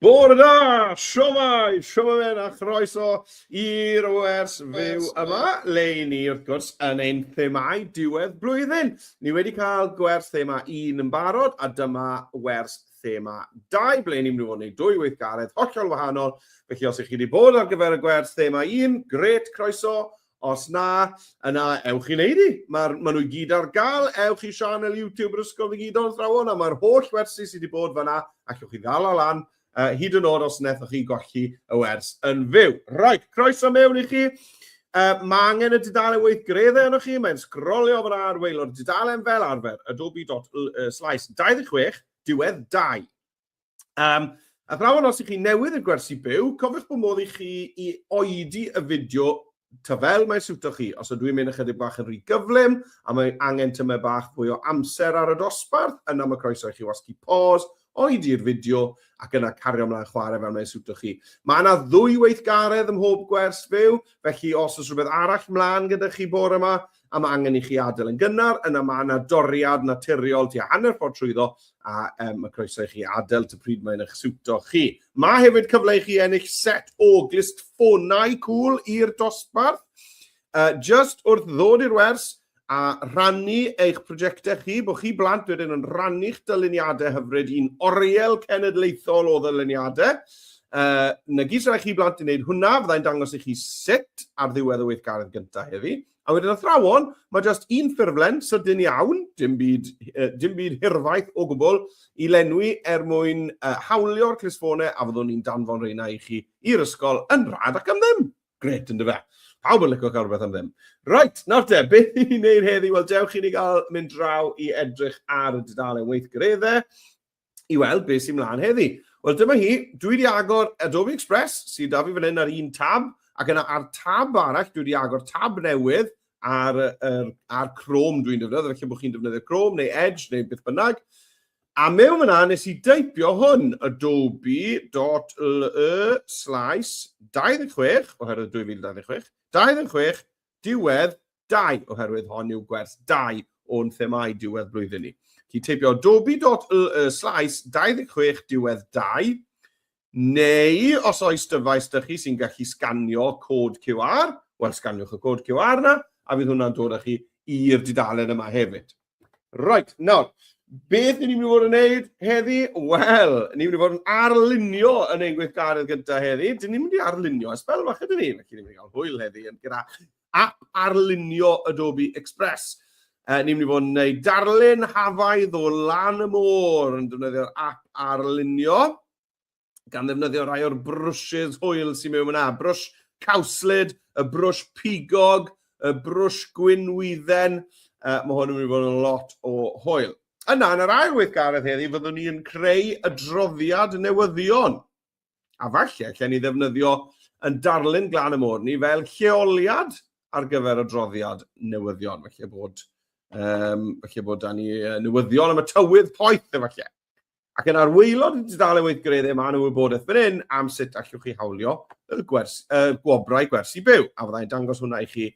Bore da! Siomai! Siomai a chroeso i'r wers fyw yma, le ni wrth gwrs yn ein themau diwedd blwyddyn. Ni wedi cael gwers thema un yn barod a dyma wers thema dau, ble ni'n mynd i fod yn ei dwy weithgaredd hollol wahanol. Felly os ych chi wedi bod ar gyfer y gwers thema un, gret, croeso, Os na, yna ewch i wneud hi. Mae'r, maen nhw i gyd ar gael. Ewch i sianel YouTube yr Ysgol Ddigidol Athrawon a mae'r holl wersi sydd wedi bod fanna ac ewch i ddal o lan uh, hyd yn oed os nethoch chi golli y wers yn fyw. Right, croeso mewn i chi. Uh, mae angen y dudalen weithgreddau yno chi, mae'n sgrolio fan ar weilo'r dudalen fel arfer, adobe.slice 26, diwedd 2. Um, a thrawon os ych chi newydd yn gwersi byw, cofiwch bod modd i chi i oedi y fideo ta fel mae'n siwto chi. Os ydw i'n mynd ychydig bach yn rhy gyflym a mae angen tymau bach fwy o amser ar y dosbarth, yna mae croeso i chi wasgu pause, oedi'r fideo ac yna cario ymlaen chwarae fel mae'n siwto chi. Mae yna ddwy weithgaredd ym mhob gwers fyw, felly os oes rhywbeth arall mlaen gyda chi bore yma, a mae angen i chi adael yn gynnar, yna mae yna doriad naturiol tua hanner ffordd trwyddo a um, mae croeso i chi adael ty pryd mae'n eich siwto chi. Mae hefyd cyfle i chi ennill set o glist ffonau cool i'r dosbarth. Uh, just wrth ddod i'r wers a rhannu eich prosiectau chi, bod chi blant wedyn yn rhannu'ch dyluniadau hyfryd i'n oriel cenedlaethol o ddyluniadau. Uh, na gyd sy'n rhaid chi blant i wneud hwnna, fyddai'n dangos i chi sut ar ddiwedd y weithgaredd gyntaf heddi. A wedyn athrawon, mae jyst un ffurflen sydyn iawn, dim byd, uh, dim byd hirfaith o gwbl, i lenwi er mwyn uh, hawlio'r clisfonau a fyddwn ni'n danfon reina i chi i'r ysgol yn rhad ac am ddim. Gret, ynddo fe. Pawb yn licio cael rhywbeth am ddim. Right, nawr te, beth i ni wneud heddi? Wel, dewch i ni gael mynd draw i edrych ar y dudalen weithgareddau. i weld beth sy'n mlaen heddi. Wel, dyma hi. Dwi wedi agor Adobe Express, sydd da fi fan hyn ar un tab, ac yna ar tab arall, dwi wedi agor tab newydd ar, ar, ar Chrome dwi'n defnyddio, felly bod chi'n defnyddio Chrome neu Edge neu beth bynnag. A mewn yna, nes i deipio hwn, adobe.le slash 26, oherwydd 2026, 26, diwedd dau, oherwydd hon yw gwers dau o'n themau diwedd blwyddyn ni. Chi teipio dobi.ly slais 26 diwedd dau, neu os oes dyfais dych chi sy'n gallu sganio cod QR, wel sganiwch y cod QR na, a fydd hwnna'n dod â chi i'r dudalen yma hefyd. Right, nawr, beth ni'n mynd i fod yn neud heddi? Wel, ni'n mynd i fod yn arlunio yn ein gweithgaredd gyda heddi. Dyn ni'n mynd i arlunio ers fel fath ydyn ni. Felly, ni'n mynd i gael hwyl heddi yn gyda app arlunio Adobe Express. Uh, ni'n mynd i fod yn neud darlun hafaidd o lan y môr yn defnyddio'r app arlunio. gan ddefnyddio rhai o'r brwsys hwyl sy'n mewn yna. Brwsh cawslyd, y brwsh pigog, y brwsh gwynwydden. Uh, mae hwn yn mynd i fod yn lot o hwyl. Yna, yn yr ail weithgaredd heddi, fyddwn ni'n creu y droddiad newyddion. A falle, lle ni ddefnyddio yn darlun glan y môr ni fel lleoliad ar gyfer y droddiad newyddion. Felly bod, um, felly bod da ni newyddion am y tywydd poeth efallai. Ac yn arwyllod y dudalen weithgareddau mae nhw wybodaeth fan hyn am sut allwch chi hawlio y, gwers, y gwobrau gwersi byw, a fyddai'n dangos hwnna i chi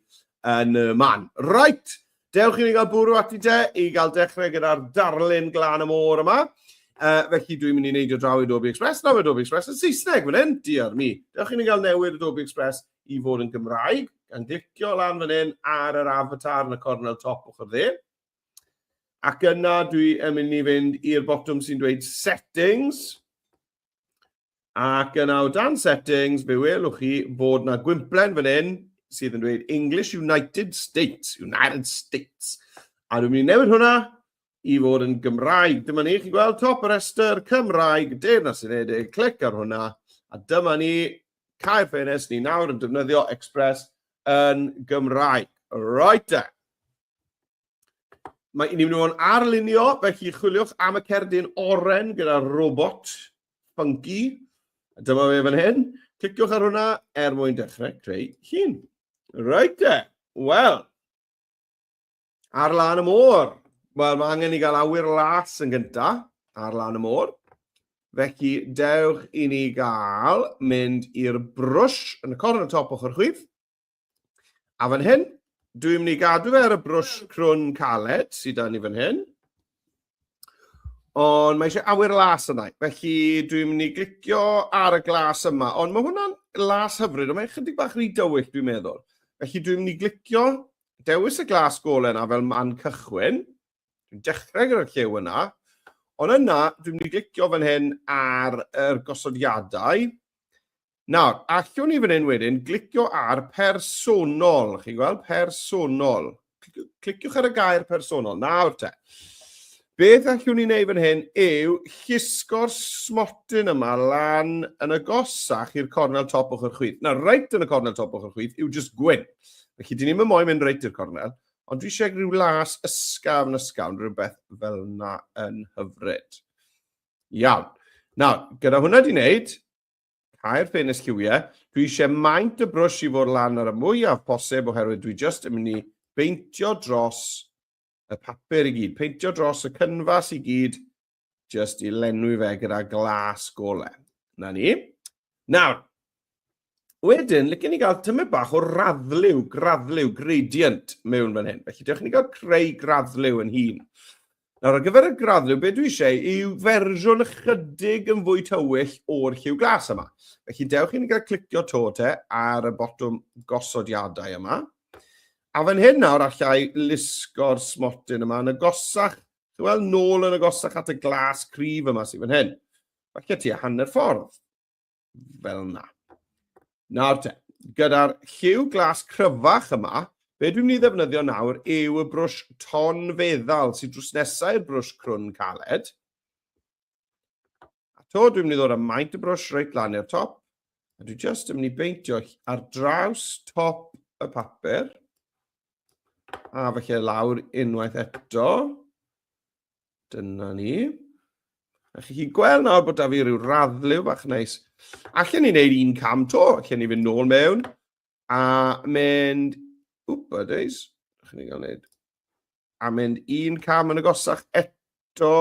yn y man. Right, dewch i ni gael bwrw ati de, i gael dechrau gyda'r darlun glan y môr yma. Uh, felly dwi'n mynd i wneud o draw i Adobe Express, nawr Adobe Express yn Saesneg fan hyn, diar mi. Dewch i ni gael newid Adobe Express i fod yn Gymraeg, gan glicio lan fan hyn ar yr avatar yn y cornel top ochr dde. Ac yna dwi yn mynd i fynd i'r botwm sy'n dweud settings. Ac yna o dan settings, fe welwch chi bod na gwymplen fan hyn sydd yn dweud English United States, United States. A dwi'n mynd i newid hwnna i fod yn Gymraeg. Dyma ni, chi'n gweld top y rhestr, Cymraeg, Deyrnas Unedig, clic ar hwnna. A dyma ni, cael ffenest ni nawr yn defnyddio Express yn Gymraeg. Right then. Mae ni'n mynd o'n arlunio, felly chwiliwch am y cerdyn oren gyda'r robot funky. Dyma fe fan hyn. Cliciwch ar hwnna er mwyn dechrau creu hun. Rhaid te. Wel, ar lan y môr. Wel, mae angen i gael awyr las yn gynta ar lan y môr. Felly, dewch i ni gael mynd i'r brwsh yn y corn y top ochr chwith. A fan hyn, dwi'n mynd i gadw fe ar y brwsh crwn caled sydd dan ni fan hyn. Ond mae eisiau awyr las yna. Felly dwi'n mynd i glicio ar y glas yma. Ond mae hwnna'n las hyfryd, ond mae'n chydig bach rhy dywyll dwi'n meddwl. Felly dwi'n mynd i glicio dewis y glas golau yna fel man cychwyn. Dwi'n dechrau gyda'r llew yna. Ond yna, dwi'n mynd i glicio fan hyn ar yr gosodiadau. Nawr, allwn ni fan hyn wedyn glicio ar personol, chi'n gweld, personol. Cliciwch ar y gair personol, nawr te. Beth allwn ni wneud fan hyn yw llusgo'r smotyn yma lan yn y gosach i'r cornel top o'ch chwith. Na, reit yn y cornel top o'ch chwith yw just gwyn. Felly, dyn ni'n mynd moyn mynd reit i'r cornel, ond dwi eisiau rhyw las ysgaf yn ysgafn, rhywbeth fel yna yn hyfryd. Iawn. Nawr, gyda hwnna di wneud, Cau'r ffenest lliwiau. Dwi eisiau maint y brwsh i fod lan ar y mwyaf posib oherwydd dwi just yn mynd i beintio dros y papur i gyd, peintio dros y cynfas i gyd, just i lenwi fe gyda glas gole. Na ni. Nawr, wedyn, licen ni gael tymed bach o raddliw, graddliw, gradient mewn fan hyn. Felly, dewch ni gael creu graddliw yn hun. Nawr, ar gyfer y graddryw, be dwi eisiau yw fersiwn ychydig yn fwy tywyll o'r lliw glas yma. Felly, dewch i'n gael clicio to te ar y botwm gosodiadau yma. A fan hyn nawr, allai lusgo'r smotyn yma yn y gosach, wel, nôl yn y gosach at y glas cryf yma sy'n fan hyn. Felly, ti a hanner ffordd. fel yna. Nawr te, gyda'r lliw glas cryfach yma, be dwi'n mynd i ddefnyddio nawr yw y brwsh ton feddal sy'n drws nesau i'r brwsh crwn caled. A to dwi'n mynd i ddod â maint y brwsh reit lan i'r top, a dwi'n just yn mynd i beintio ar draws top y papur, a felly lawr unwaith eto, Dyna ni. A chi chi'n gweld nawr bod da fi rhyw raddlew bach neis. Allen ni wneud un cam to, allen ni fynd nôl mewn a mynd... Wp, a days. Allen ni gael wneud... A mynd un cam yn y gosach eto.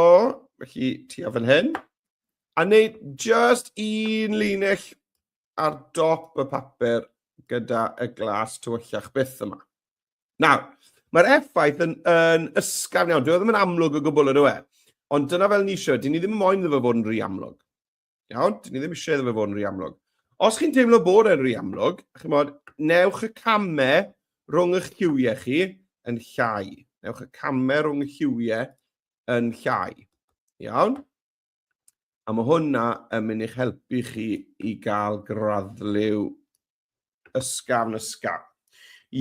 Felly, ti a fan hyn. A wneud just un linell ar dop y papur gyda y glas tywyllach byth yma. Nawr, mae'r effaith yn, yn ysgafn iawn. Dwi e ddim yn amlwg o gwbl yn yw e. Ond dyna fel ni eisiau. Dyn ni ddim yn moyn iddo fe fod yn rhy amlwg. Iawn? Dyn ni ddim eisiau iddo fe fod yn rhy amlwg. Os chi'n teimlo bod e'n rhy amlwg, chi'n modd, newch y camau rhwng eich lliwiau chi yn llai. Newch y camau rhwng y lliwiau yn llai. Iawn? A mae hwnna yn mynd i'ch helpu chi i gael graddliw ysgafn ysgafn.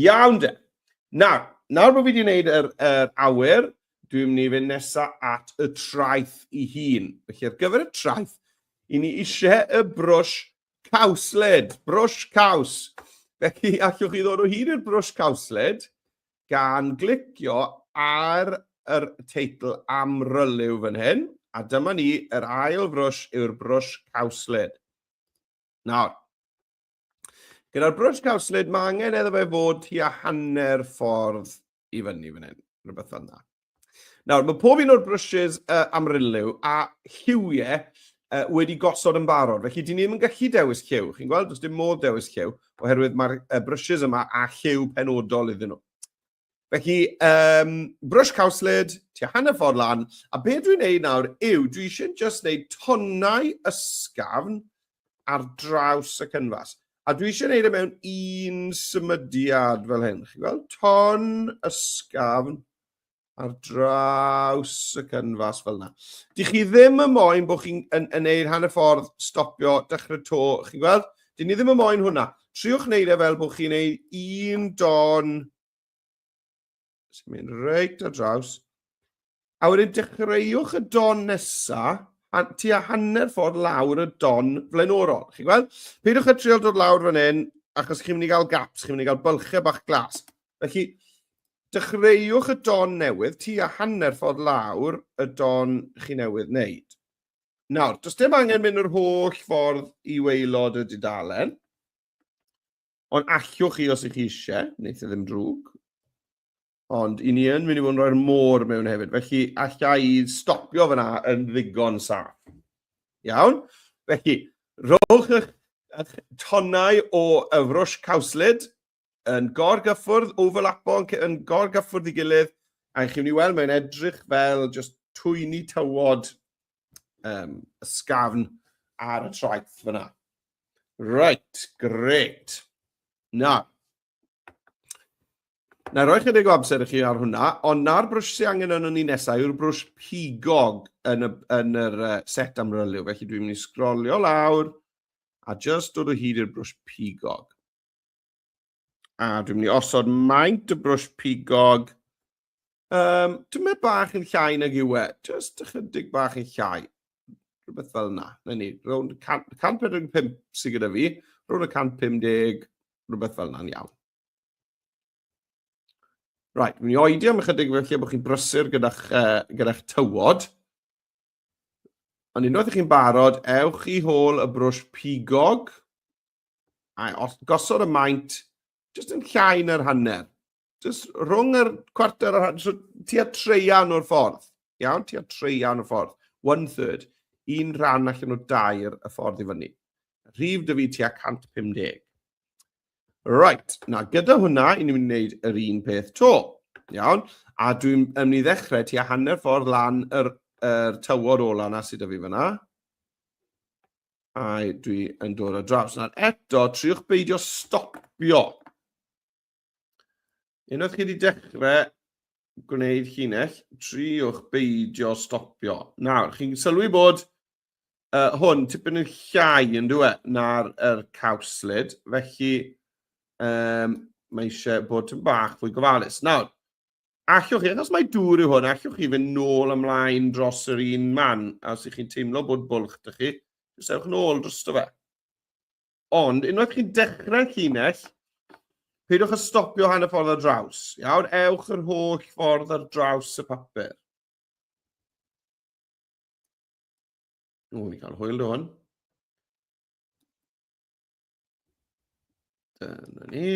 Iawn de. Nawr, nawr bod fi wedi gwneud yr, yr awyr, dwi'n mynd i fynd nesaf at y traeth i hun. Felly ar gyfer y traeth, i ni eisiau y brwsh cawsled, brwsh caws. Felly allwch chi ddod o hyd i'r brwsh cawsled gan glicio ar yr teitl amryliw fan hyn, a dyma ni, yr ail frwsh yw'r brwsh cawslyd. Nawr, gyda'r brwsh cawslyd, mae angen eddo fe fod tua hanner ffordd i fyny fan hyn, rhywbeth fel yna. Nawr, mae pob un o'r brwsys uh, amryliw a lliwiau uh, wedi gosod yn barod. Felly, dyn ni ddim yn gallu dewis lliw. Chi'n gweld, does dim modd dewis lliw, oherwydd mae'r uh, brwsys yma a lliw penodol iddyn nhw. Felly, um, brwsh cawslid, tua hanner ffordd lan, a beth dwi'n neud nawr yw, dwi eisiau just neud tonnau ysgafn ar draws y cynfas. A dwi eisiau gwneud e mewn un symudiad fel hyn. Chi'n gweld? Ton ysgafn ar draws y cynfas fel yna. Dych chi ddim yn moyn bod chi'n yn, yn neud hanner ffordd, stopio, dechrau to. Chi'n gweld? Dyn ni ddim yn moyn hwnna. Triwch wneud e fel bod chi'n neud un don Sy'n mynd reit ar draws. A wedyn dechreuwch y don nesa, a tua hanner ffordd lawr y don flaenorol. Chi'n gweld? Peidiwch â trial dod lawr fan hyn, achos chi'n mynd i gael gaps, chi'n mynd i gael bylchau bach glas. Felly, dechreuwch y don newydd, tua hanner ffordd lawr y don chi newydd wneud. Nawr, does dim angen mynd yr holl ffordd i weilod y dudalen. Ond allwch chi os ych chi eisiau, wneud ddim drwg. Ond i ni yn mynd i fod yn rhoi'r môr mewn hefyd. Felly, allai i stopio fyna yn ddigon saff. Iawn? Felly, rhowch eich, eich tonnau o yfrwsh cawslid yn gorgyffwrdd, overlapo yn, yn gorgyffwrdd i gilydd, a chi'n mynd i weld mae'n edrych fel just twyni tywod um, ysgafn ar y traeth fyna. Right, great. Na. Na, roi chydig o amser i chi ar hwnna, ond na'r brwsh sy'n angen yn ni nesau yw'r brwsh pigog yn, y, yn yr uh, set amryliw. Felly dwi'n mynd i sgrolio lawr a just dod o hyd i'r brwsh pigog. A dwi'n mynd i osod maint y brwsh pigog. Um, dwi'n mynd bach yn llai nag yw e. Just ychydig bach yn llai. Rhywbeth fel yna. Na ni, rownd 145 sydd gyda fi. Rhwng y 150, rhywbeth fel yna'n iawn. Right, dwi'n mynd i oedi am ychydig felly bod chi'n brysur gyda'ch uh, gyda tywod. Ond unwaith ych chi'n barod, ewch i hôl y brwsh pigog a gosod y maint jyst yn llai na'r hanner. Jyst rhwng yr cwarter o'r hanner, so tua treian o'r ffordd. Iawn, tua treian o'r ffordd. One third. Un rhan allan o dair y ffordd i fyny. Rhif dy fi tua 150. Right, na, gyda hwnna, i ni'n gwneud yr un peth to. Iawn? A dwi'n mynd i ddechrau ti a hanner ffordd lan yr, yr tywod ola na sydd â fi fyna. A dwi yn dod o draws. Nawr eto, triwch beidio stopio. Unwaith chi wedi dechrau gwneud llinell, triwch beidio stopio. Nawr, chi'n sylwi bod uh, hwn tipyn yn llai yn dwi e, na'r er cawslid, felly um, mae eisiau bod yn bach fwy gofalus. Nawr, allwch chi, achos mae dŵr yw hwn, allwch chi fynd nôl ymlaen dros yr un man, a os ych chi'n teimlo bod bwlch dych chi, jyst ewch nôl dros dy fe. Ond, unwaith chi'n dechrau llinell, peidiwch â stopio hanner ffordd ar draws. Iawn, ewch yr holl ffordd ar draws y papur. O, ni cael hwyl rhywun. Dyna ni.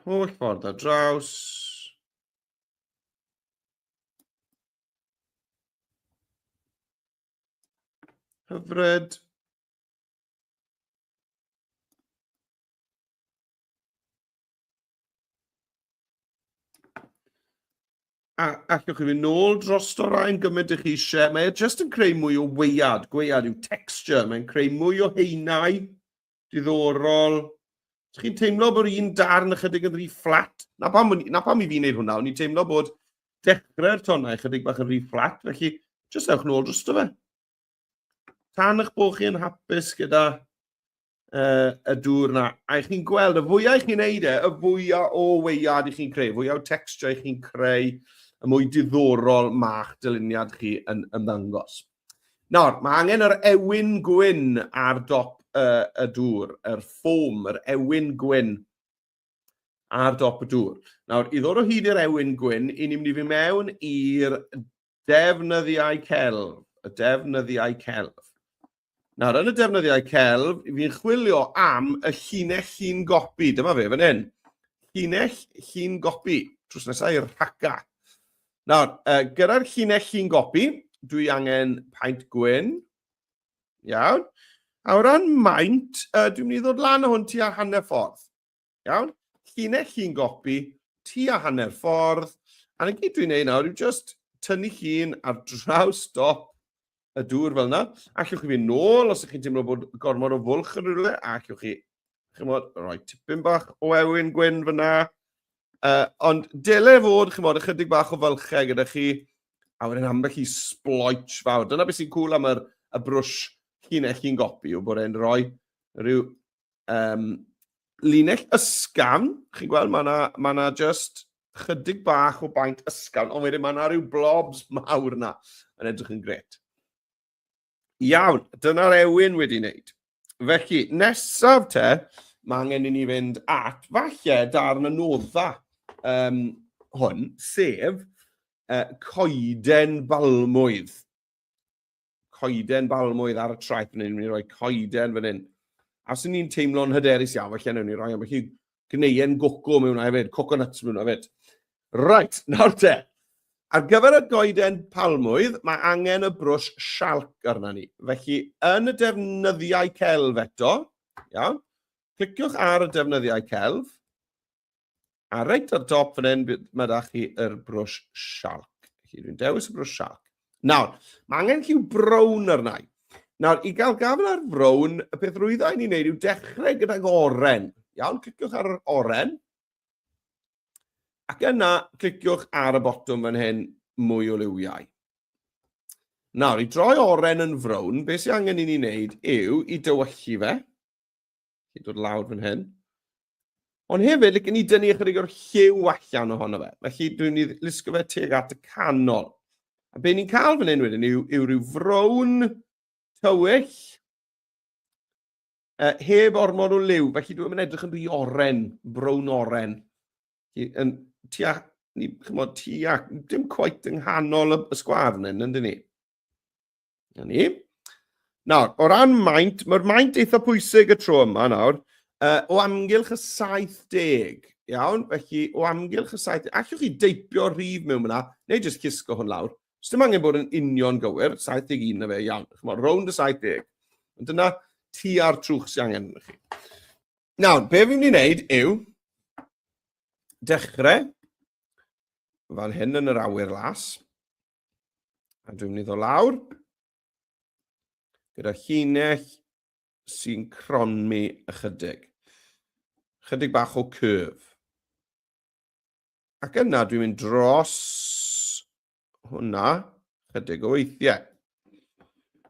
Holl ffordd ar draws. Hyfryd. A allwch chi fynd nôl dros o rhain gymaint ych eisiau. Mae e jyst yn creu mwy o weiad. Gwead yw texture. Mae'n creu mwy o heinau. Diddorol. Ydych chi'n teimlo bod un darn ychydig yn rhy fflat? Na pam, na pam i fi wneud hwnna. O'n i'n teimlo bod dechrau'r tonnau ychydig bach yn rhy fflat. Felly, jyst ewch nôl dros o fe. Tan eich bod chi'n hapus gyda uh, y dŵr yna, a chi'n gweld, y fwyau chi'n neud e, y fwyau o weiad i chi'n creu, y fwyau o texture i chi'n creu, y mwy diddorol mae'ch dyluniad chi yn ymddangos. Nawr, mae angen yr ewyn gwyn ar dop uh, y dŵr, yr ffom, yr ewyn gwyn ar dop y dŵr. Nawr, i ddod o hyd i'r ewyn gwyn, i ni'n mynd i fi mewn i'r Defnyddiau celf, y defnyddiau celf. Nawr, yn y defnyddiau celf, fi'n chwilio am y llinell llun gopi. Dyma fe, fan hyn. Llinell llun gopi. Trws nesau i'r rhaca. Nawr, uh, gyda'r llinell llun gopi, dwi angen paent gwyn. Iawn. A o ran maint, uh, dwi'n mynd i ddod lan o hwn ti a hanner ffordd. Iawn? Llinell llun gopi, tua hanner ffordd, a na gyd dwi'n neud nawr yw just tynnu llun ar draws dop y dŵr fel yna. Allwch chi fynd nôl os ydych chi'n teimlo bod gormod o fwlch yn rhywle, a allwch chi, chymod, rhoi tipyn bach o ewyn gwyn fyna. Uh, ond dele fod, chymod, ychydig bach o fylchau gyda chi, a wedyn ambell i sploich fawr. Dyna beth sy'n cool am yr, y brwsh llinell chi'n gopi, yw bod e'n rhoi rhyw Um, linell ysgafn, chi'n gweld, mae yna ma, na, just chydig bach o baint ysgafn, ond wedyn mae yna rhyw blobs mawr yna yn edrych yn gret. Iawn, dyna'r ewyn wedi wneud. Felly, nesaf te, mae angen i ni fynd at falle darn y nodda um, hwn, sef uh, coeden balmwydd. coeden balmwydd ar y traeth fan hyn, ni'n rhoi coeden fan hyn. A sy'n ni'n teimlo'n hyderus iawn, felly newn ni roi ambell i gneuen goco mewn a hefyd, coconuts mewn a hefyd. Right, nawr te. Ar gyfer y goeden palmwydd, mae angen y brwsh sialc arna ni. Felly, yn y defnyddiau celf eto, iawn, cliciwch ar y defnyddiau celf, A reit ar dop fan hyn, mae da chi yr brwsh shark. Felly dwi'n dewis y brwsh shark. Nawr, mae angen lliw brown arna i. Nawr, i gael gafel ar frown, y peth rwydda i ni'n neud yw dechrau gydag oren. Iawn, cliciwch ar yr oren. Ac yna, cliciwch ar y botwm fan hyn, mwy o liwiau. Nawr, i droi oren yn frown, beth sy'n angen i ni wneud yw i dywyllu fe. Chi'n dod lawr fan hyn. Ond hefyd, like, ni dynnu ychydig o'r lliw allan ohono fe. Felly, dwi'n ni lusgo fe teg at y canol. A be ni'n cael fan hyn wedyn yw, yw rhyw frown tywyll uh, heb ormod o liw. Felly, dwi'n mynd edrych yn rhy oren, brown oren. Yn tua, ni, chymod, tua, dim coet yng nghanol y, y sgwar fan hyn, yndyn ni? Na ni. Nawr, o ran maint, mae'r maint eitha pwysig y tro yma nawr, uh, o amgylch y 70, iawn? Felly, o amgylch y 70, allwch chi deipio rhif mewn yna, neu jyst cysgo hwn lawr. Os dim angen bod yn union gywir, 71 na fe, iawn. Chymod, rownd y 70. Ond dyna ti a'r trwch sy'n angen yna chi. Nawr, be fi'n mynd i wneud yw dechrau fan hyn yn yr awyr las, A dwi'n mynd i ddod lawr gyda llinell sy'n cronmi ychydig. Chydig bach o curve. Ac yna dwi'n mynd dros hwnna chydig o weithiau.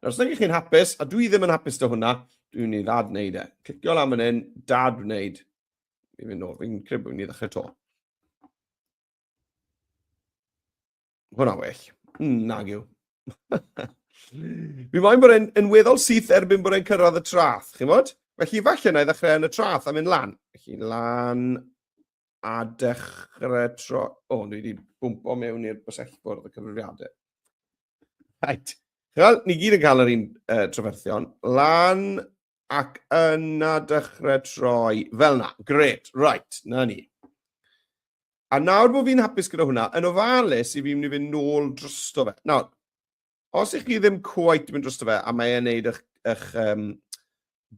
Nawr, os ydych chi'n hapus, a dwi ddim yn hapus dy hwnna, dwi'n mynd i ddad wneud e. Clicio lan fan hyn, dad wneud. Fi'n mynd nôl, fi'n credu bod ni'n ddechrau to. Hwna well. Mm, nag yw. Mi mae'n bod e'n yn weddol syth erbyn bod e'n cyrraedd y trath, chi'n bod? Felly falle na i ddechrau yn y trath a mynd lan. Felly lan a dechrau tro... O, oh, ni wedi bwmpo mewn i'r bysellfwrdd y cyfrifiadau. Right. Wel, ni gyd yn cael yr un uh, trafferthion. Lan ac yna dechrau troi. Fel na. Gret. Right. Na ni. A nawr bod fi'n hapus gyda hwnna, yn ofalus i fi mynd i fynd nôl drosto fe. Nawr, os ych chi ddim cwait yn mynd drosto fe, a mae e'n neud eich, eich um,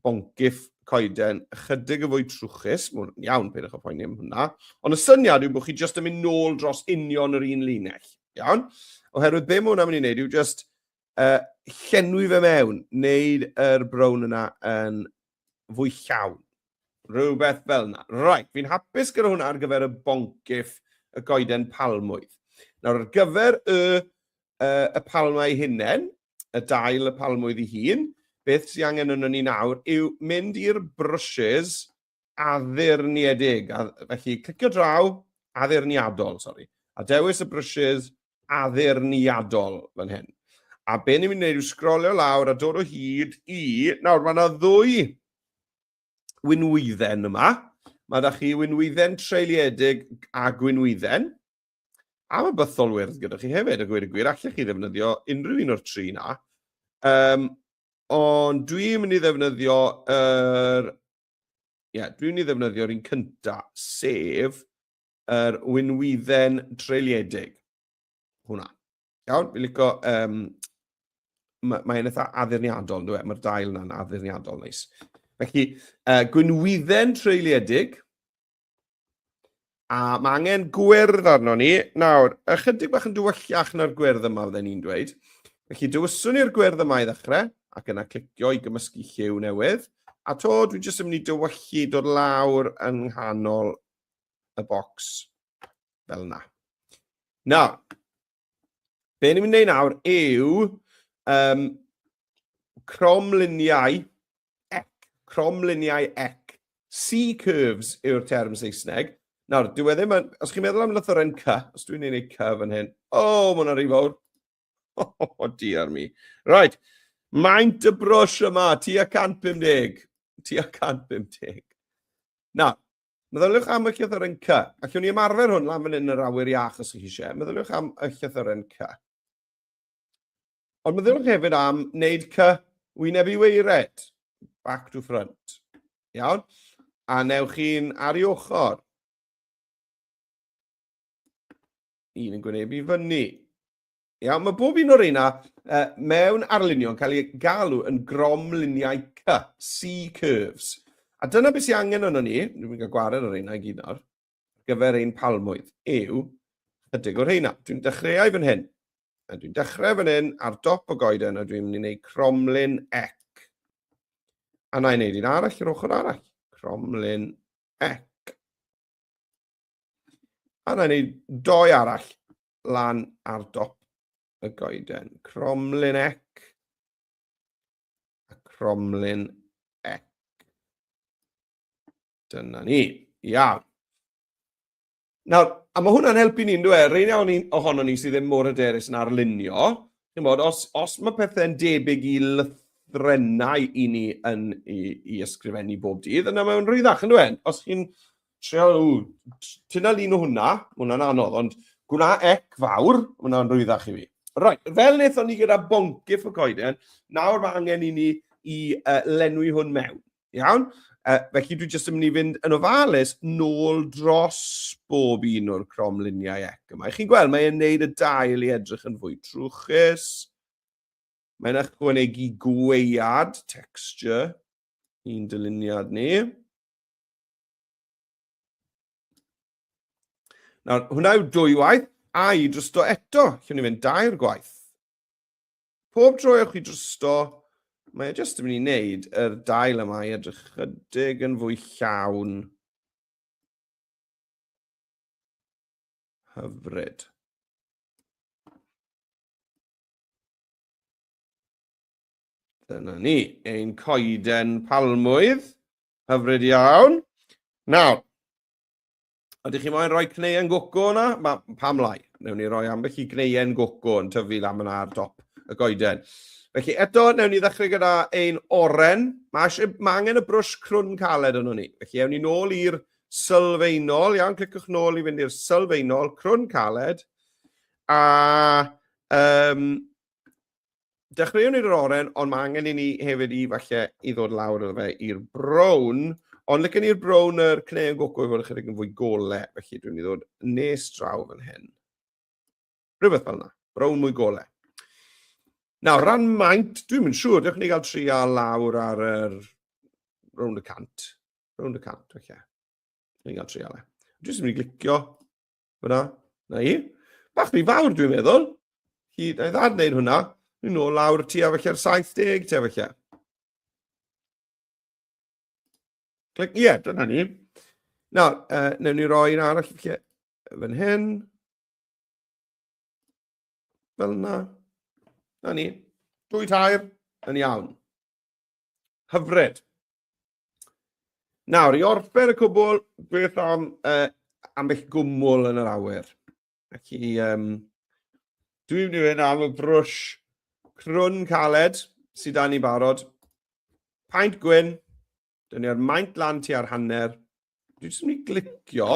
boncyff coeden ychydig yn fwy trwchus, mae'n iawn, peidiwch â phoeni am hwnna, ond y syniad yw bod chi jyst yn mynd nôl dros union yr un linell, iawn? Oherwydd be mae hwnna'n mynd i wneud yw jyst Yy, llenwi fe mewn, wneud yr brown yna yn fwy llawn. Rhywbeth fel yna. Right, fi'n hapus gyda hwnna ar gyfer y boncyff y goeden palmwydd. Nawr, ar gyfer y, uh, y palmau hunen, y dail y palmwydd i hun, beth sy'n angen yno ni nawr yw mynd i'r brushes addurniedig, a, felly clicio draw, addurniadol, sori, a dewis y brwsys addurniadol fan hyn. A be ni'n mynd i wneud yw sgrolio lawr a dod o hyd i... Nawr, mae yna ddwy winwydden yma. Mae da chi winwydden treuliedig a gwynwydden. A mae bythol wyrdd gyda chi hefyd, y gwir y gwir. Allech chi ddefnyddio unrhyw un o'r tri na. Um, ond dwi'n mynd i ddefnyddio yr er Ie, yeah, dwi'n i ddefnyddio'r un cynta, sef yr winwydden treuliedig. Hwna. Iawn, fi'n licio... Um, Mae'n ma eitha addurniadol, dwi e? Mae'r dail yna'n addurniadol, neis. Felly, uh, gwynwydden treuliedig. A mae angen gwyrdd arno ni. Nawr, ychydig bach yn dywyllach na'r gwyrdd yma fydden ni'n dweud. Felly dywyswn ni'r gwyrdd yma i ddechrau, ac yna clicio i gymysgu lliw newydd. A to, dwi jyst yn mynd i dywyllu dod lawr yng nghanol y bocs fel yna. Nawr, Be ni'n mynd i wneud nawr yw um, cromluniau ec, cromluniau ec. C-curves yw'r term Saesneg. Nawr, dwi wedi ddim os chi'n meddwl am lythyren C, os dwi'n ei wneud C fan hyn, o, oh, mae'n rhy fawr. O, oh, oh, dear mi. Right, maint y brwsh yma, ti a 150, ti a 150. Nawr, Meddyliwch am y llythyren C. Allwn ni ymarfer hwn lan fan hyn yn yr awyr iach os ydych chi eisiau. Meddyliwch am y llythyren C. Ond meddyliwch hefyd am wneud C wyneb i weired, back to front. Iawn? A newch chi'n ar i ochr. Un yn gwynebu fyny. Iawn, mae bob un o'r reina uh, mewn arlunio'n cael ei galw yn gromluniau C, C-curves. A dyna beth sy'n angen yno ni, dwi'n mynd i gwared o'r reina i gyd nawr, gyfer ein palmwydd, yw chydig o'r reina. Dwi'n dechreuau fan hyn. A dwi'n dechrau fan hyn ar dop o goeden a dwi'n mynd i wneud cromlun ec. A na i wneud un arall yr ochr arall. Cromlun ec. A na i wneud doi arall lan ar dop y goeden. Cromlin ec. A cromlin ec. Dyna ni. Iawn. Nawr, a mae hwnna'n helpu ni'n dweud, rhaid iawn ni ohono ni sydd ddim mor hyderus yn arlunio, chi'n bod, os, os mae pethau'n debyg i lythrenau i ni yn i, i ysgrifennu bob dydd, yna mae'n rhwyddach yn dweud. Os chi'n Trio, ti'n al un o hwnna, hwnna'n anodd, ond gwna ec fawr, hwnna'n rwyddach i fi. Right, fel wnaethon ni gyda boncyff y coeden, nawr mae angen i ni i uh, lenwi hwn mewn. Iawn? Uh, felly dwi jyst yn mynd i fynd yn ofalus nôl dros bob un o'r cromluniau ec yma. Chi'n gweld, mae'n neud y dail i edrych yn fwy trwchus. Mae'n ychwanegu gweiad, texture, i'n dyluniad ni. Nawr, hwnna yw dwy waith, a i drosto eto, lle ni fynd dair gwaith. Pob tro ewch i drosto, mae e jyst yn mynd i wneud yr dail yma i edrych chydig yn fwy llawn. Hyfryd. Dyna ni, ein coeden palmwydd. Hyfryd iawn. Nawr, ydych chi moyn rhoi cneuen goco yna? Ma, pam lai? Newn ni roi ambell i gneuen goco yn tyfu lan yna ar dop y goeden. Felly eto, newn ni ddechrau gyda ein oren. Mae, eisiau, mae angen y brwsh crwn caled yno ni. Felly ewn ni nôl i'r sylfaenol. Iawn, clicwch nôl i fynd i'r sylfaenol, crwn caled. A um, Dechreuwn ni'r oren, ond mae angen i ni hefyd i falle i ddod lawr iddo fe i'r brown. Ond lycyn ni'r brown yr cneu yn goco i fod ychydig yn fwy gole, felly dwi'n i ddod nes draw fan hyn. Rhywbeth fel yna, brown mwy gole. Nawr, ran maint, dwi'n mynd siŵr, dewch ni gael tri a lawr ar yr... round y cant. Round y cant, felly. Okay. Dwi'n gael tri a le. Dwi'n mynd i glicio. Fyna, na i. Bach rhy fawr dwi'n meddwl. Hi, na i ddad wneud hwnna. Ni'n ôl lawr ti a felly'r 70 ti a felly. Clic, ie, yeah, dyna ni. Nawr, uh, newn ni roi un arall felly fan hyn. Fel yna. Na ni. Dwy tair, yn iawn. Hyfryd. Nawr, i orffen y cwbl, beth am uh, ambell gwmwl yn yr awyr? Ac i, um, dwi'n mynd i fynd am y brwsh crwn caled sydd dan ni barod. Paint gwyn, dyn ni'r maint lan ti ar hanner. Dwi'n jyst mynd i glicio.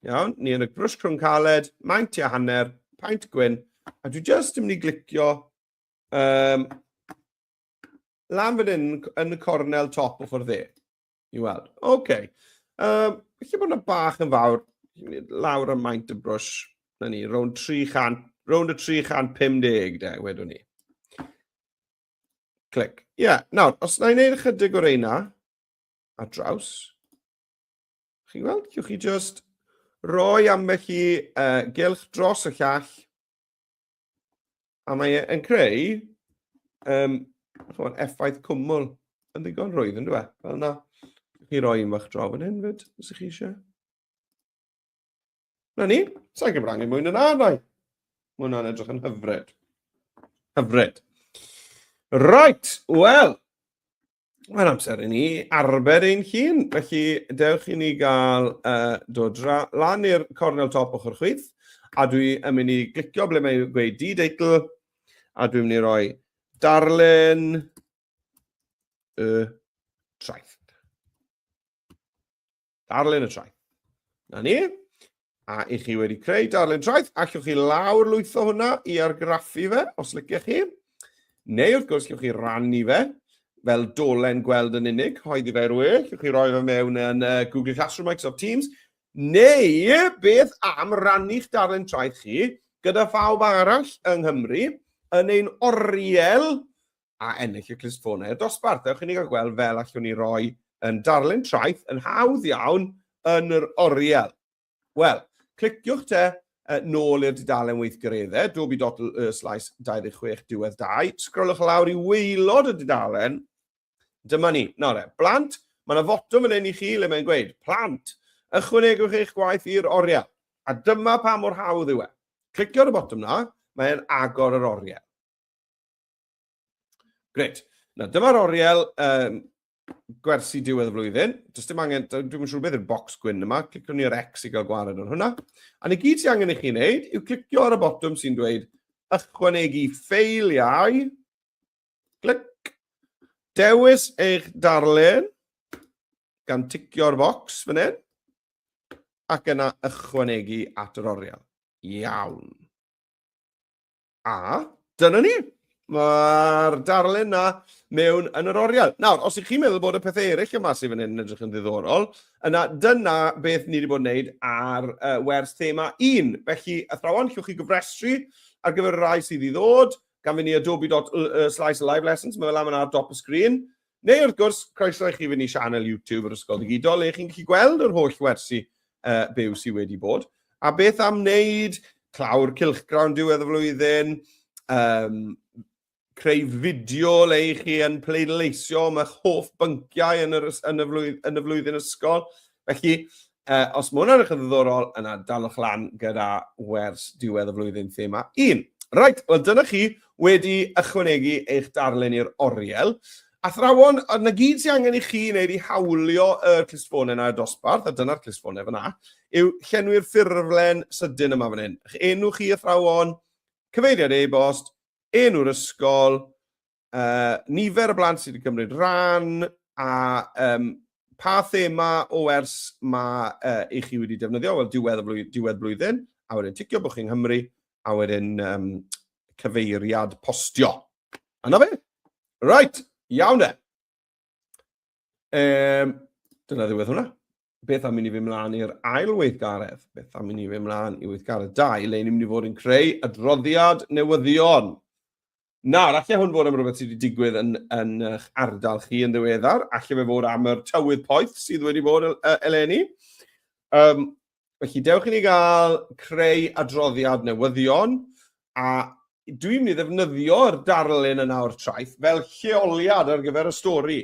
Iawn, ni yn y brwsh crwn caled, maint ti ar hanner, paint gwyn. A dwi'n jyst yn mynd i glicio um, Lan fan hyn, yn y cornel top ochr dde. I weld. Oce. Okay. Um, Felly bod yna bach yn fawr. Lawr am maint y brwys. Na ni, rown 300, rown y 350 de, wedwn ni. Clic. Ie, yeah. nawr, os na i wneud ychydig o'r eina, a draws, chi'n gweld, chiwch chi just roi ambell i uh, gylch dros y llall, A mae e'n creu um, chwan, effaith cwmwl yn ddigon rhwydd yn dweud. Fel yna, chi roi un fach draw fan hyn fyd, os ych chi eisiau. Na ni, sa'n gyfrannu mwy na rai. Mae hwnna'n edrych yn hyfryd. Hyfryd. Right, wel, Mae'n amser i ni arbed ein hun, felly dewch i ni gael uh, dod lan i'r cornel top ochr chwith, a dwi yn mynd i glicio ble mae'n gweud d-deitl, a dwi'n mynd i roi darllen y traeth. Darllen y traeth. Na ni. A i chi wedi creu darllen traeth, allwch chi lawr lwytho hwnna i argraffu fe, os lyciach chi. Neu wrth gwrs, allwch chi rannu fe fel dolen gweld yn unig, hoeddi fe rwy'n, allwch chi roi fe mewn yn uh, Google Classroom, Microsoft Teams, neu beth am rannu'ch darllen traeth chi gyda phawb arall yng Nghymru yn ein oriel a ennill y clustffonau i'r dosbarth. Ewch i ni gael gweld fel allwn ni roi yn darlun traeth yn hawdd iawn yn yr oriel. Wel, cliciwch te uh, nôl i'r dudalen weithgaredde, dobi dot y slais 26 diwedd 2, sgrolwch lawr i weilod y dudalen, dyma ni. Nawr e, blant, mae yna fotwm yn ein i chi le mae'n gweud, plant, ychwanegwch eich gwaith i'r oriel. A dyma pa mor hawdd yw e. Clicio ar y botwm na, mae'n agor yr oriel. Gret. Na, dyma'r oriel um, gwersi diwedd y flwyddyn. Does dim angen, dwi'n siŵr beth yw'r box gwyn yma, clicio ni ar X i gael gwared ar hwnna. A ni gyd sy'n angen i chi wneud yw clicio ar y botwm sy'n dweud ychwanegu ffeiliau. Clic. Dewis eich darllen gan ticio'r box fan hyn ac yna ychwanegu at yr oriel. Iawn. A dyna ni. Mae'r darlun na mewn yn yr oriel. Nawr, os ych chi'n meddwl bod y pethau eraill yma sydd fan hyn yn edrych yn ddiddorol, yna dyna beth ni wedi bod yn wneud ar uh, wers thema 1. Felly, athrawon, llwch chi gyfrestru ar gyfer y rai sydd i ddod, gan fynd i adobe.slice live lessons, mae fel am yna ar dop y sgrin. Neu wrth gwrs, croeso i chi fynd i sianel YouTube yr Ysgol Digidol le chi'n gallu gweld yr holl wersi uh, byw sydd wedi bod. A beth am wneud clawr cilchgrawn diwedd y flwyddyn, um, creu fideo le i chi yn pleidleisio am eich hoff bynciau yn, yr, yn, y, flwyddyn, yn y flwyddyn ysgol. Felly, uh, os mae hwnna'n eich yn ddiddorol, yna dalwch lan gyda wers diwedd y flwyddyn thema 1. Right, wel dyna chi wedi ychwanegu eich darllen i'r oriel. Athrawon, a na gyd sy'n angen i chi wneud i hawlio y clustffonau yna y dosbarth, a dyna'r clustffonau fyna, yw llenwi'r ffurflen sydyn yma fan hyn. Eich enw chi athrawon, cyfeiriad e-bost, enw'r ysgol, uh, nifer y blant sydd wedi cymryd rhan a um, pa thema o ers mae uh, i chi wedi defnyddio, wel diwedd, flwyddyn, diwedd blwyddyn, a wedyn ticio bod chi'n Nghymru, a wedyn um, cyfeiriad postio. Yna fe? Right, iawn e. Um, dyna ddiwedd hwnna. Beth am i ni fy mlaen i'r ail weithgaredd? Beth am i ni fy mlaen i weithgaredd 2, le ni'n mynd i fod yn creu adroddiad newyddion? Nawr, allai hwn fod am rhywbeth sydd wedi digwydd yn, yn eich ardal chi yn ddiweddar. Allai fe fod am yr tywydd poeth sydd wedi bod eleni. Um, felly, dewch i ni gael creu adroddiad newyddion a dwi'n mynd i ddefnyddio'r darlun yna o'r traeth fel lleoliad ar gyfer y stori.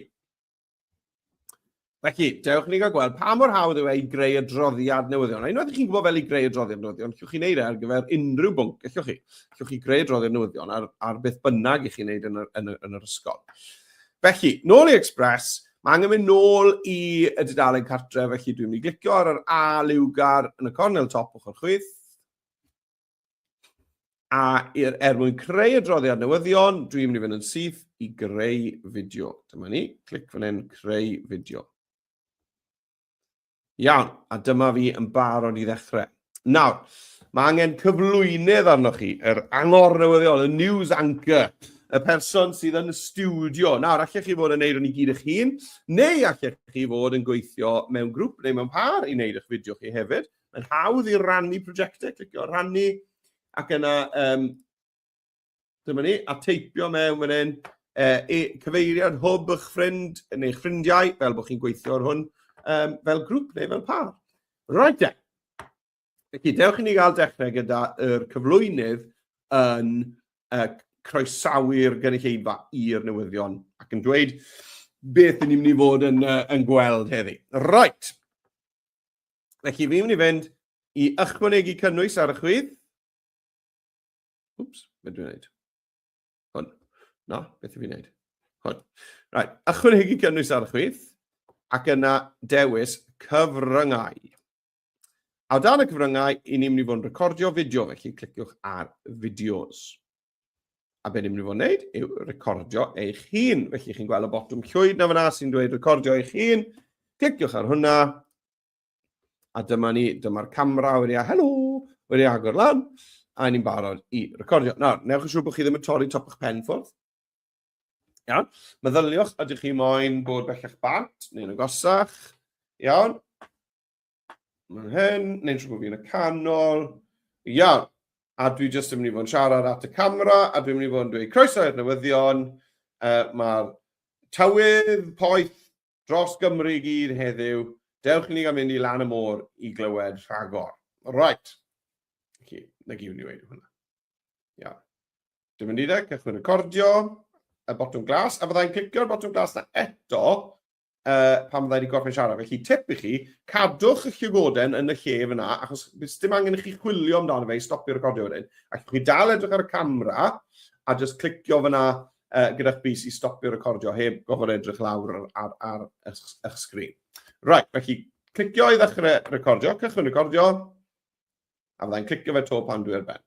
Felly, dewch ni gael gweld pa mor hawdd yw e i greu adroddiad newyddion. A unwaith i chi'n gwybod fel i greu adroddiad newyddion, llwch chi'n neud e ar gyfer unrhyw bwnc, gallwch chi. Llwch chi greu adroddiad newyddion ar, ar beth bynnag i chi'n neud yn yr, yn, yr, yn yr ysgol. Felly, nôl i Express, mae angen mynd nôl i y dudalen cartre, felly dwi'n mynd i glicio ar yr A liwgar yn y cornel top ochr chwith. A er, er mwyn creu adroddiad newyddion, dwi'n mynd i fynd yn syth i greu fideo. Dyma ni, clic fan hyn, creu fideo. Iawn, a dyma fi yn barod i ddechrau. Nawr, mae angen cyflwynydd arnoch chi, yr angor newyddion, y news anchor, y person sydd yn y studio. Nawr, allech chi fod yn neud o'n i gyd eich hun, neu allech chi fod yn gweithio mewn grŵp neu mewn par i wneud eich fideo chi hefyd. Mae'n hawdd i rannu prosiectau, clicio rannu, ac yna, um, dyma ni, a teipio mewn fan hyn, e, e, cyfeiriad hwb eich ffrind neu eich ffrindiau, fel bod chi'n gweithio ar hwn, um, fel grŵp neu fel par. Right then. Felly, dewch i ni gael dechrau gyda'r cyflwynydd yn uh, croesawu'r gynulleidfa i'r newyddion ac yn dweud beth ni'n mynd i fod yn, uh, yn gweld heddi. Right. Felly, fi mynd i fynd i ychwanegu cynnwys ar y chwith. Wps, beth dwi'n gwneud? Hwn. No, beth dwi'n gwneud? Hwn. Right, ychwanegu cynnwys ar y chwith, ac yna dewis cyfryngau. A dan y cyfryngau, i ni'n mynd i fod yn recordio fideo, felly cliciwch ar fideos. A be ni'n mynd i fod yn gwneud yw recordio eich hun. Felly chi'n gweld y botwm llwyd na fyna sy'n dweud recordio eich hun. Cliciwch ar hwnna. A dyma ni, dyma'r camera wedi a helo, wedi agor lan. A ni'n barod i recordio. Nawr, newch yn siŵr bod chi ddim yn torri top eich pen ffwrdd. Iawn. Meddyliwch, ydych chi moyn bod bellach bant neu'n agosach? Iawn. Mae'n hyn, neu'n siŵr bod fi'n y canol. Iawn. A dwi jyst yn mynd i fod yn siarad at y camera, a dwi'n mynd i fod yn dweud croeso i'r newyddion. Uh, Mae'r tywydd poeth dros Gymru i gyd heddiw. Dewch i ni gael mynd i lan y môr i glywed rhagor. Right. Okay. Na gyd ni wedi hwnna. Ia. Dim yn dideg, cychwyn recordio, y botwm glas, a fyddai'n clicio'r botwm glas na eto, uh, pan fydda i wedi gorffen siarad. Felly, tip i chi, cadwch y llygoden yn y lle fyna, achos bys dim angen i chi chwilio amdano fe i stopio recordio wedyn. Ac chi dal edrych ar y camera, a just clicio fyna uh, gyda'ch bus i stopio recordio heb gofod edrych lawr ar, ar, ar eich sgrin. Right, felly, clicio i ddechrau recordio, cychwyn recordio, a fyddai'n clicio fe to pan dwi ar ben.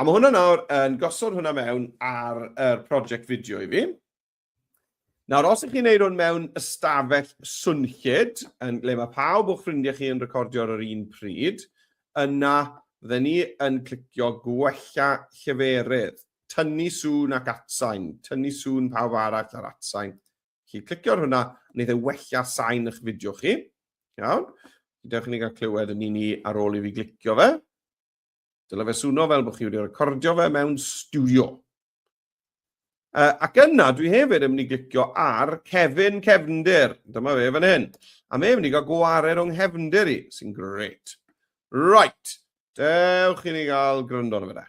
A mae hwnna nawr yn gosod hwnna mewn ar y er prosiect fideo i fi. Nawr, os ych chi'n neud hwn mewn ystafell swnllyd, yn ble mae pawb o'ch ffrindiau chi yn recordio ar yr un pryd, yna fydden ni yn clicio gwella lleferydd, tynnu sŵn ac atsain, tynnu sŵn pawb arall ar atsain, Felly, clicio ar hwnna, wneud e wella sain eich fideo chi. Iawn? Dewch i ni gael clywed yn un i ar ôl i fi glicio fe. Dyle fe swno fel bod chi wedi recordio fe mewn studio. Uh, ac yna, dwi hefyd yn mynd i glicio ar Kevin Cefndir. Dyma fe fan hyn. A mae'n mynd i gael gwared o'n nghefndir i, sy'n great. Right. Dewch i ni gael gryndo arno fe da.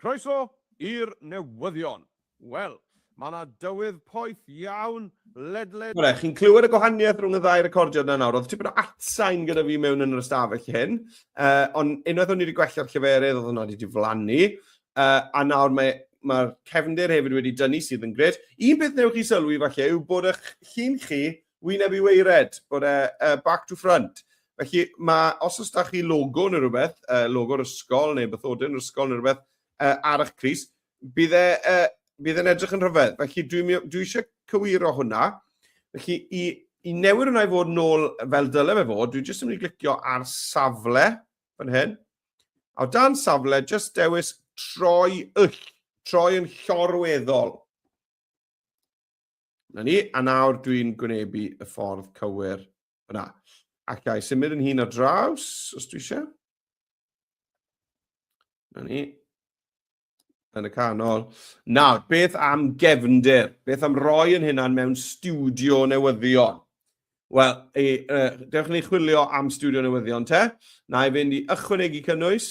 Croeso i'r newyddion. Wel, mae yna dywydd poeth iawn ledled... Bore, chi'n clywed y gwahaniaeth rhwng y ddau recordiad na nawr? Oedd tipyn o atsain gyda fi mewn yn yr ystafell hyn, uh, ond unwaith o'n i wedi gwella'r lleferydd oedd hwnna wedi diflannu, uh, a nawr mae mae'r cefndir hefyd wedi dynnu sydd yn gred. Un peth newch chi sylwi falle yw bod eich llun chi wyneb i weired, bod e uh, back to front. Felly, mae, os oes da chi logo neu rhywbeth, uh, logo'r ysgol neu bythodyn yr ysgol neu rhywbeth uh, ar eich cris, bydd e, uh, bydd e'n edrych yn rhyfedd. Felly, dwi, dwi eisiau cywiro hwnna. Felly, i, i newid hwnna i fod nôl fel dyle fe fod, dwi jyst yn mynd i glicio ar safle, fan hyn. A dan safle, jyst dewis troi yll, troi yn llorweddol. Na ni, a nawr dwi'n gwynebu y ffordd cywir fyna. Ac i symud yn hun ar draws, os dwi eisiau. Na ni. Yn y canol. Nawr, beth am gefndir? Beth am roi yn hynna'n mewn studio newyddion? Wel, e, e, dewch ni chwilio am studio newyddion te. Na i fynd i ychwanegu cynnwys,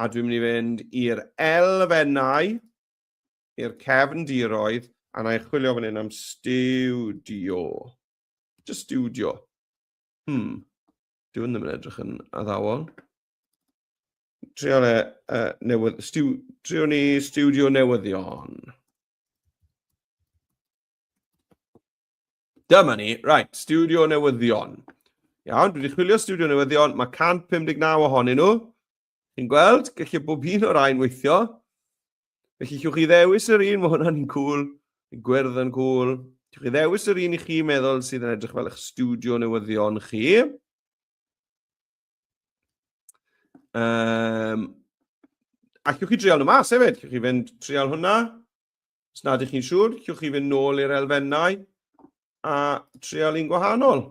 a dwi'n mynd i fynd i'r elfennau. i'r cefndiroedd a na i chwilio fan hyn am stiwdio. Just stiwdio. Hmm. Dyw hwn ddim yn edrych yn addawol. Trio le, uh, newydd, stiw, trio ni stiwdio newyddion. Dyma ni, right, stiwdio newyddion. Iawn, dwi wedi chwilio stiwdio newyddion, mae 159 ohonyn nhw. Chi'n gweld? Gallai bob un o'r rhain weithio. Felly, chiwch chi ddewis yr un, mae hwnna'n un cwl, yn gwyrdd yn cwl. Chiwch chi ddewis yr un i chi meddwl sydd yn edrych fel eich studio newyddion chi. Um, a chiwch chi dreol nhw mas hefyd. Chiwch chi fynd treol hwnna. Os nad ych chi'n siŵr, chiwch chi fynd nôl i'r elfennau a treol un gwahanol.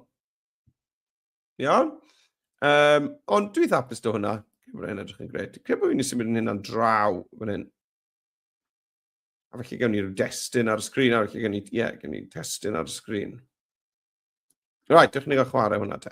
Iawn? Um, ond dwi dda apus do hwnna. Mae hynny'n edrych yn gred. Dwi'n bod fi'n nes i mynd yn hynna'n draw fan hyn. A felly gen i'r destun ar y sgrin, a felly gen i, ie, yeah, gen i testun ar y sgrin. Right, dych chi'n gael chwarae hwnna te.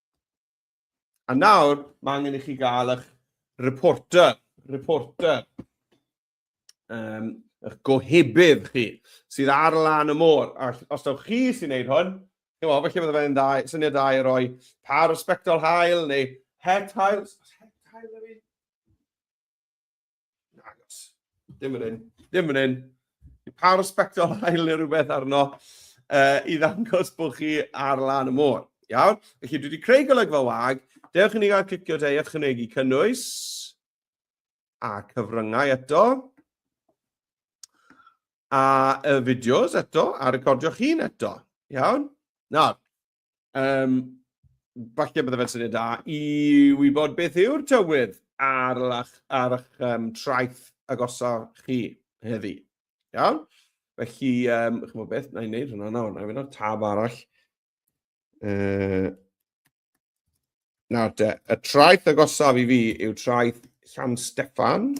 A nawr, mae angen i chi gael eich reporter, reporter, um, eich gohebydd chi, sydd ar lan y môr. A os dawch chi sy'n neud hwn, chi'n meddwl, felly fydde fe'n dau, syniad dau i roi par o spectol hael neu het hael. Het hael yw Nagos. Dim yn un. Dim yn un. Pa respectol ail neu rhywbeth arno uh, i ddangos bod chi ar lan y môr. Iawn? Felly dwi wedi creu golygfa wag. Dewch i ni gael clicio te i ychwanegu cynnwys a cyfryngau eto a y fideos eto a recordio'ch hun eto. Iawn? Nawr, Um, falle bydde fe'n syniad da i wybod beth yw'r tywydd ar, lach, ar eich um, traeth agosaf chi heddi. Iawn? Felly, um, chymod beth, na i wneud hwnna nawr, na i wneud tab arall. Uh, nawr te, y traeth agosaf i fi yw traeth Llan Steffan.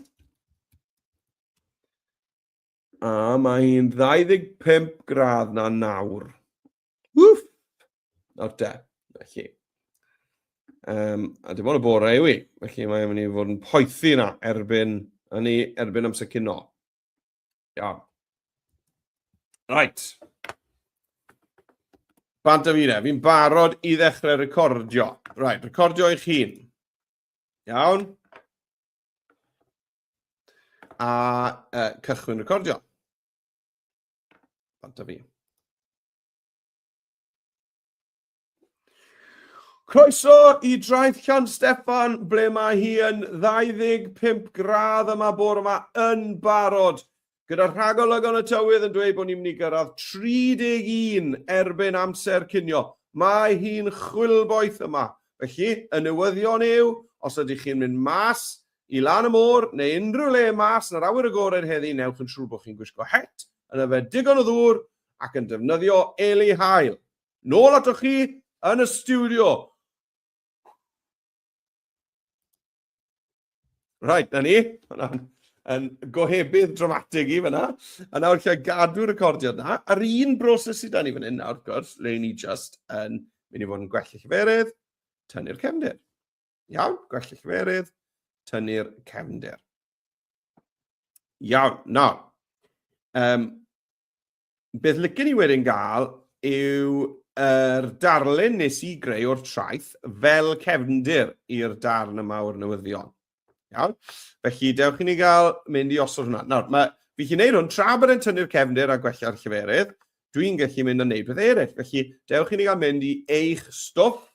A mae hi'n 25 gradd na nawr. Wff! Nawr de, felly. Um, a dim ond y bore yw i, felly mae'n mynd i fod yn poethi yna erbyn, yn ei erbyn amser cyn o. Iawn. Right. Bant am un e, fi'n barod i ddechrau recordio. Right, recordio eich hun. Iawn. A uh, cychwyn recordio. Ond da fi. Croeso i draeth Llan Steffan, ble mae hi yn 25 gradd yma bore yma yn barod. Gyda rhagolygon y tywydd yn dweud bod ni'n mynd i gyrraedd 31 erbyn amser cynio. Mae hi'n chwilboeth yma. Felly, y newyddion yw, os ydych chi'n mynd mas, i lan y môr neu unrhyw le mas yn yr awyr agored heddi newch yn siŵr bod chi'n gwisgo het yn yfed digon o ddŵr ac yn defnyddio eli haul. Nôl atoch chi yn y stiwdio. Right, na ni. Hwna'n yn gohebydd dramatig i fyna. A nawr lle gadw recordiad na. A'r un broses sydd da ni fan hyn nawr, gwrs, le ni just yn mynd i fod yn gwell y lleferydd, tynnu'r cefndir. Iawn, gwell y cyferydd, tynnu'r cefndir. Iawn, nawr, um, beth lycyn ni wedyn gael yw yr darlun nes i greu o'r traeth fel cefndir i'r darn yma o'r newyddion. Iawn? Felly, dewch i ni gael mynd i osod hwnna. Nawr, mae, fi chi'n neud hwn tra bod e'n tynnu'r cefndir a gwella'r lleferydd, dwi'n gallu mynd a neud beth eraill. Felly, dewch i ni gael mynd i eich stwff.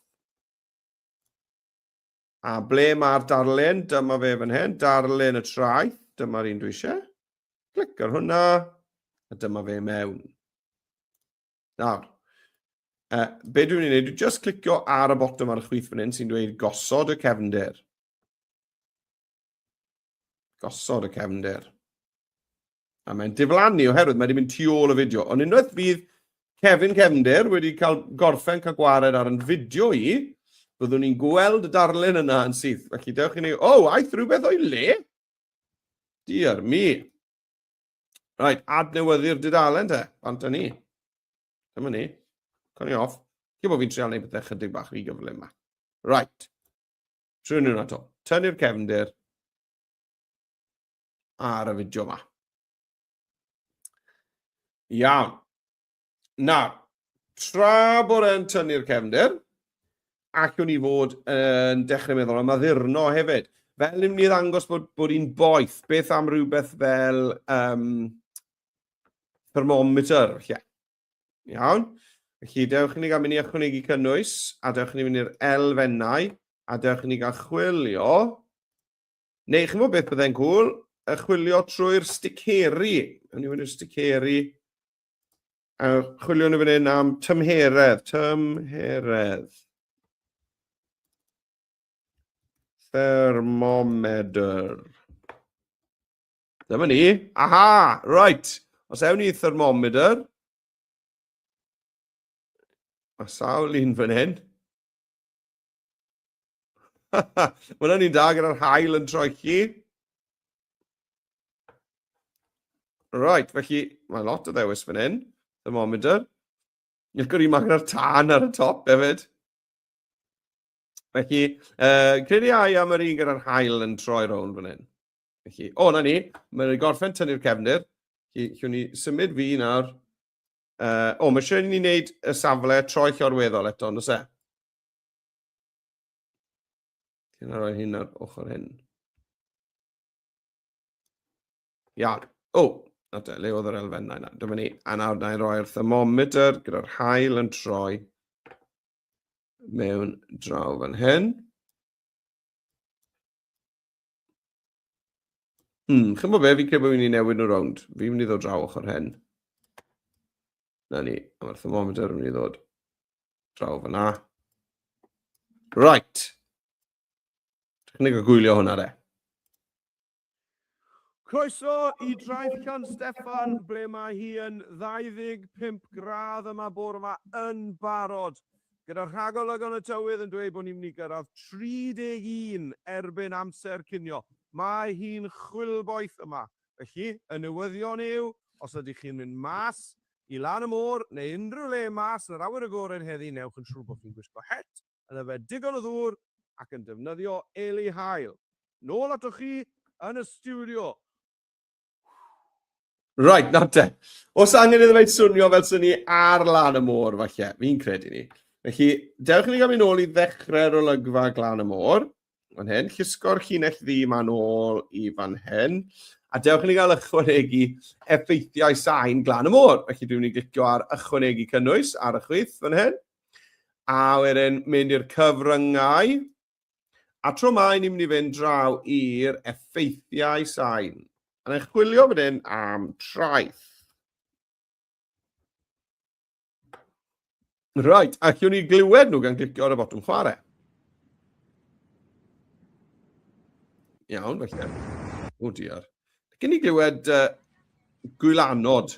A ble mae'r darlun? Dyma fe fan hyn, darlun y traeth. Dyma'r un dwi eisiau. Clic ar hwnna, a dyma fe mewn. Nawr, uh, be dwi'n ei wneud, dwi'n just clicio ar y botwm ar y chwith fan hyn sy'n dweud gosod y cefndir. Gosod y cefnder. A mae'n diflannu oherwydd mae wedi mynd tu ôl y fideo. Ond unwaith fydd Kevin Cefnder wedi cael gorffen cael gwared ar yn fideo i, byddwn ni'n gweld y darlun yna yn syth. Felly dewch i ni, o, oh, aeth rhywbeth o'i le? Diar mi. Right, adnewyddu'r dudalen te, bant ni. Dyma ni. Cwn i off. Cyn bod fi'n trial neud bethau chydig bach rhy gyflym yma. Right. Trwy nhw'n ato. Tynnu'r cefndir ar y fideo yma. Iawn. Nawr, tra bod e'n tynnu'r cefndir, allwn ni fod yn dechrau meddwl am addurno hefyd. Fel ni'n mynd i ddangos bod, bod hi'n boeth, beth am rhywbeth fel um, thermometer, lle? Iawn. Felly, dewch i ni gael mynd i ychwanegu cynnwys, a dewch i ni mynd i'r elfennau, a dewch i ni gael chwilio. Neu, chi'n fawr beth byddai'n gwl, y chwilio trwy'r sticeri. Yn i mynd i'r sticeri. A chwilio nhw fan hyn am tymheredd, tymheredd. thermometer. Dyma ni. Aha! Right. Os ewn ni thermometer. A sawl un fan hyn. Mae'n hynny'n da gyda'r hael yn troi chi. Right, felly mae lot o ddewis fan hyn. Thermometer. Ni'n gwrdd i maen ar tân ar y top hefyd. Felly, uh, credu ai am yr un gyda'r hael yn troi rown fan hyn. Felly, o, na ni, mae'n ei gorffen tynnu'r cefnir. Felly, llwn ni symud fi nawr. Uh, o, mae eisiau ni wneud y safle troi llorweddol eto, nos e? Ti'n rhoi hyn ar ochr hyn. Iawn. O, na te, le oedd yr elfennau na. Dyma ni. A nawr na i roi'r thermometer gyda'r hael yn troi mewn draw fan hyn. Hmm, chi'n bod be, fi'n credu bod fi'n mynd i newid nhw rownd. Fi'n mynd i ddod draw ochr hen. Na ni, a mae'r thermometer yn mynd i ddod draw fyna. Right. Technig o gwylio hwnna de. Croeso i Draeth Can Steffan, ble mae hi yn 25 gradd yma bore yma yn barod Gyda rhagolygon y tywydd yn dweud bod ni'n mynd i gyrraedd 31 erbyn amser cinio, mae hi'n chwilboeth yma. Felly, y newyddion yw, os ydych chi'n mynd mas i lan y môr neu unrhyw le mas yn yr awyr agored heddi, newch yn siŵr bod chi'n gwisgo het, yn yfed digon o ddŵr ac yn defnyddio eli haul. Nôl atoch chi yn y stiwdio. Right, nawr te. Os angen iddo fe swnio fel sy'n ni ar lan y môr, falle, fi'n credu ni. Felly, dewch i ni gael mynd ôl i ddechrau'r olygfa glan y môr. Fan hyn, llusgo'r llinell ddi ma'n ôl i fan hyn. A dewch i ni gael ychwanegu effeithiau sain glan y môr. Felly, dwi'n mynd i glicio ar ychwanegu cynnwys ar y chwith fan hyn. A wedyn, mynd i'r cyfryngau. A tro mae ni'n mynd i fynd draw i'r effeithiau sain. A ni'n chwilio fan hyn am traeth. Right, a chiwn ni glywed nhw gan glicio ar y botwm chwarae. Iawn, felly. O diar. Gyn ni glywed uh, gwylanod.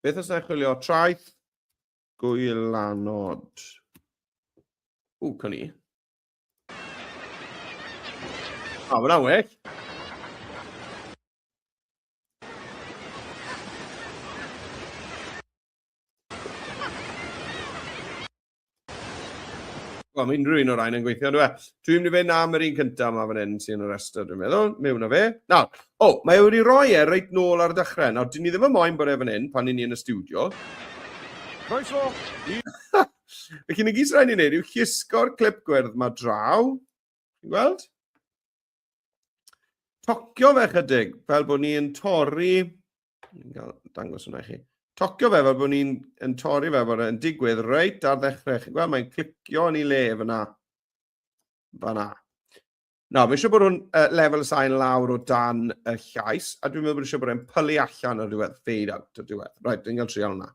Beth os na chwilio traeth gwylanod? O, cawn i. O, mae'n aweg. Wel, mae unrhyw un o'r rhain yn gweithio, dwi e? Dwi'n mynd i fynd am yr un cyntaf yma fan hyn sy'n y rhestr, dwi'n meddwl. Mewn o fe. Na, o, mae e wedi rhoi e reit nôl ar y dechrau. Nawr, dyn ni ddim yn moyn bod e fan hyn pan ni'n ni yn y studio. Croeso! Felly, na gyd sy'n rhaid ni'n neud yw chisgo'r clip gwyrdd yma draw. Ti'n gweld? tocio fe chydig, fel bod ni'n torri, ni'n cael dangos hwnna i chi, tocio fe fel bod ni'n yn torri fe bod e'n digwydd reit ar ddechrau. Chi'n gweld, mae'n clicio yn ei le fyna. Fyna. Na, mae eisiau bod nhw'n uh, lefel y sain lawr o dan y llais, a dwi'n meddwl bod eisiau bod e'n pylu allan o'r diwedd, fade out o'r diwedd. Right, dwi'n cael trial hwnna.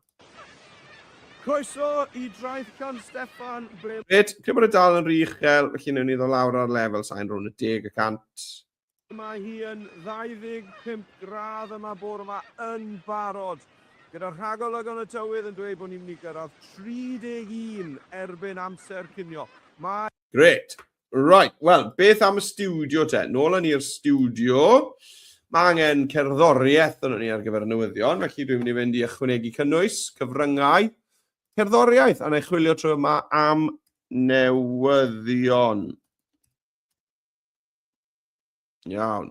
Croeso i Draeth Llan Steffan, ble... Reit, lle bod y dal yn rhy uchel, felly newn ni ddo lawr ar lefel sain rhwng y deg y cant. Mae hi yn 25 gradd yma bore yma yn barod, gyda rhagolygon y tywydd yn dweud bod ni'n mynd i gyrraedd 31 erbyn amser cinio. Mae... Grêt! Right, wel, beth am y studio te? Nôl yn i'r studio. Mae angen cerddoriaeth yn ni ar gyfer y newyddion, felly dwi'n mynd i fynd i ychwanegu cynnwys, cyfryngau, cerddoriaeth, a na i chwilio trwy yma am newyddion. Iawn.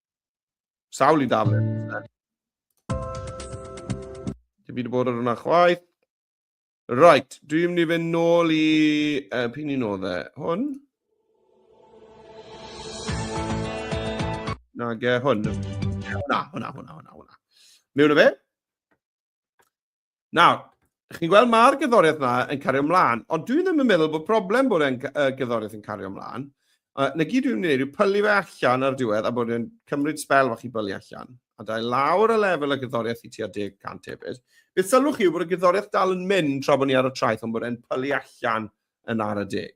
Sawl i daflen. Dwi'n byd bod ar hwnna chwaith. Right, dwi'n mynd i fynd nôl i... Uh, pyn i'n oedd e? Hwn? Na, ge, hwn. Hwna, hwna, hwna, hwna, hwna. Mewn o fe? Nawr, chi'n gweld mae'r gyddoriaeth yna yn cario ymlaen, ond dwi ddim yn meddwl bod problem bod e'n uh, gyddoriaeth yn cario ymlaen. Uh, na gyd dwi'n gwneud yw pylu fe allan ar diwedd a bod e'n cymryd spel fach i bylu allan. A da lawr y lefel y gyddoriaeth i tua 10% hefyd. Beth sylwch chi yw bod y gyddoriaeth dal yn mynd tra bod ni ar y traeth ond bod e'n pylu allan yn ar y deg.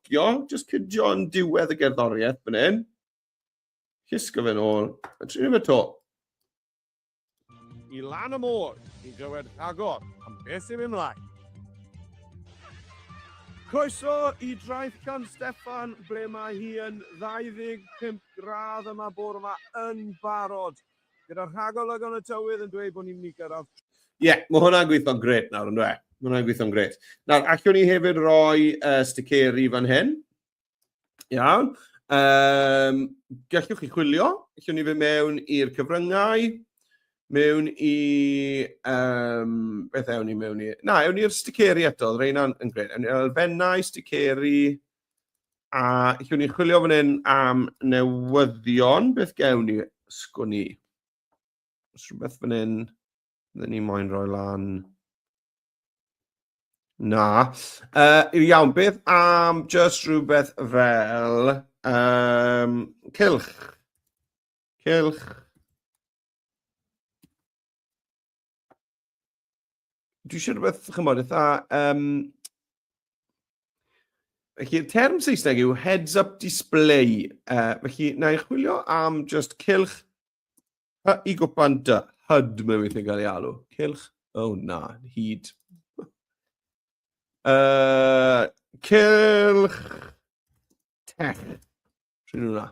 Cio, just cydio yn diwedd y gerddoriaeth fan hyn. Cysgo fe'n ôl, a trin fe to. I lan y môr, i glywed rhagor am beth sy'n mynd mlaen. Croeso i Draeth Gan Steffan, ble mae hi yn 25 gradd yma bore yma yn barod Gyda rhagolwg yn y tywydd yn dweud bod ni'n mynd i gyrraedd. Ie, yeah, mae hwnna'n gweithio'n gret nawr, yn dwe? Mae hwnna'n gweithio'n gret. Nawr, allwn ni hefyd roi uh, sticeri fan hyn. Iawn. Um, gallwch chi chwilio. Allwn ni fe mewn i'r cyfryngau. Mewn i... Um, beth ewn ni mewn i? Na, ewn ni'r sticeri eto. Rhain yn gret. Ewn ni elfennau, sticeri... Sticeri A lle ni'n chwilio fan hyn am newyddion, beth gewn ni? Sgwn i. Os rhywbeth fan hyn, fydden ni moyn rhoi lan. Na. Uh, iawn, beth am just rhywbeth fel um, cilch? Cilch. dwi eisiau rhywbeth, chi'n chymod, eitha... Um, felly, term Saesneg yw heads-up display. Uh, felly, na i chwilio am just cilch hy i gwpan dy hyd mewn weithio'n cael ei alw. Cilch, oh na, hyd. Uh, cilch tech. Rydyn nhw'na.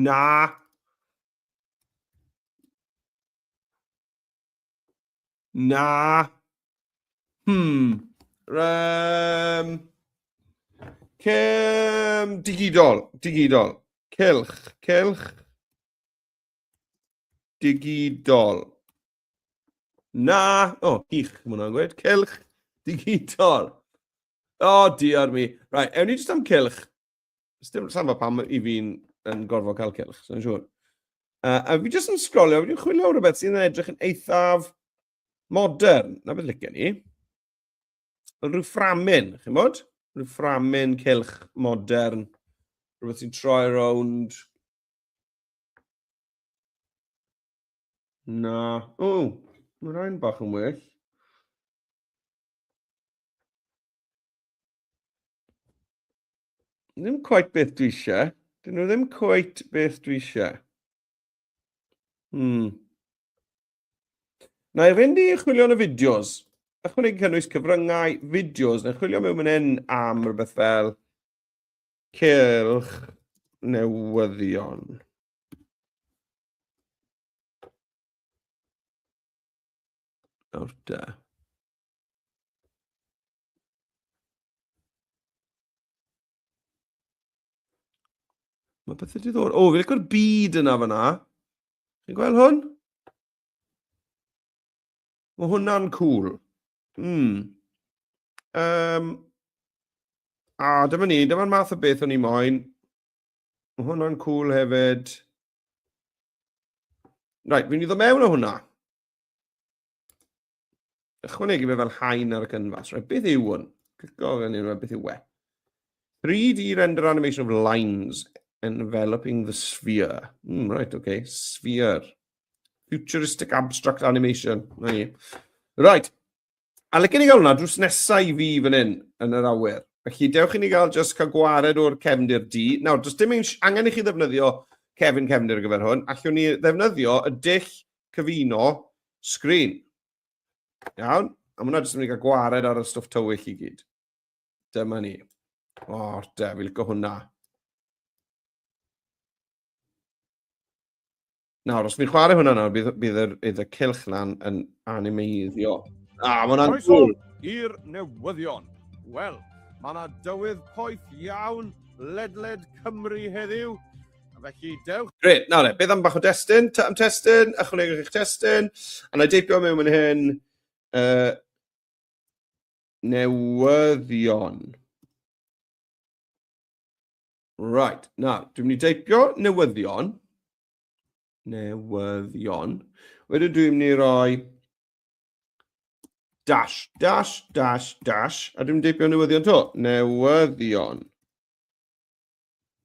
Na, Na. Hmm. Um, cym digidol, digidol. Cylch, cylch. Digidol. Na. O, oh, hych, mae hwnna'n gweud. Cylch digidol. O, oh, diar mi. Rai, right, ewn ni jyst am cylch. Sdim samba pam i fi'n yn gorfod cael cilch, sy'n siŵr. Uh, a fi jyst yn sgrolio, fi'n chwilio rhywbeth sy'n edrych yn eithaf modern. Na beth lygen ni. Rhyw fframyn, chi'n bod? Rhyw fframyn cilch modern. Rhywbeth sy'n troi rownd. Na. O, mae'n rhain bach yn well. Ddim quite beth dwi eisiau. Dyn nhw ddim quite beth dwi eisiau. Hmm. Na i fynd i chwilio yn y fideos. Ychwanegu cynnwys cyfryngau, fideos, neu chwilio mewn mynd hyn am rhywbeth fel cylch newyddion. Nawr da. Mae bethau diddor. O, fi'n licor byd yna fyna. Chi'n gweld hwn? Mae hwnna'n cool. Mm. Um, a dyma ni, dyma'r math o beth o'n i moyn. Mae hwnna'n cool hefyd. Right, fi'n iddo mewn o hwnna. ychwanegu fe fel haen ar y canfas. Right, beth yw hwn? Clico gan hyn, beth yw e? 3D render animation of lines enveloping the sphere. Mm, right, okay, sphere. Futuristic abstract animation. Right. right. A lycyn i gael hwnna drws nesau i fi fan hyn yn yr awyr. Felly, dewch i ni gael just cael gwared o'r cefndir di. Nawr, does dim angen i chi ddefnyddio cefn cefndir ar gyfer hwn. Allwn ni ddefnyddio y dull cyfuno sgrin. Iawn? A mae hwnna jyst yn mynd i gael gwared ar y stwff tywyll i gyd. Dyma ni. O, da, fi licio hwnna. Nawr, os fi'n chwarae hwnna nawr, bydd, bydd, yr, bydd y cilch na'n yn animeiddio. A, mae hwnna'n gwl. i'r newyddion. Wel, mae yna dywydd poeth iawn ledled Cymru heddiw. Felly, dewch. Gret, nawr le, beth am bach o destun? Ta am testun, ychwanegwch eich testun. A na deipio mewn yn hyn. Uh, newyddion. Right, na, dwi'n mynd i deipio newyddion. Newyddion. Wedyn dwi'n mynd i roi dash, dash, dash, dash, a dwi'n mynd i deipio newyddion to. Newyddion.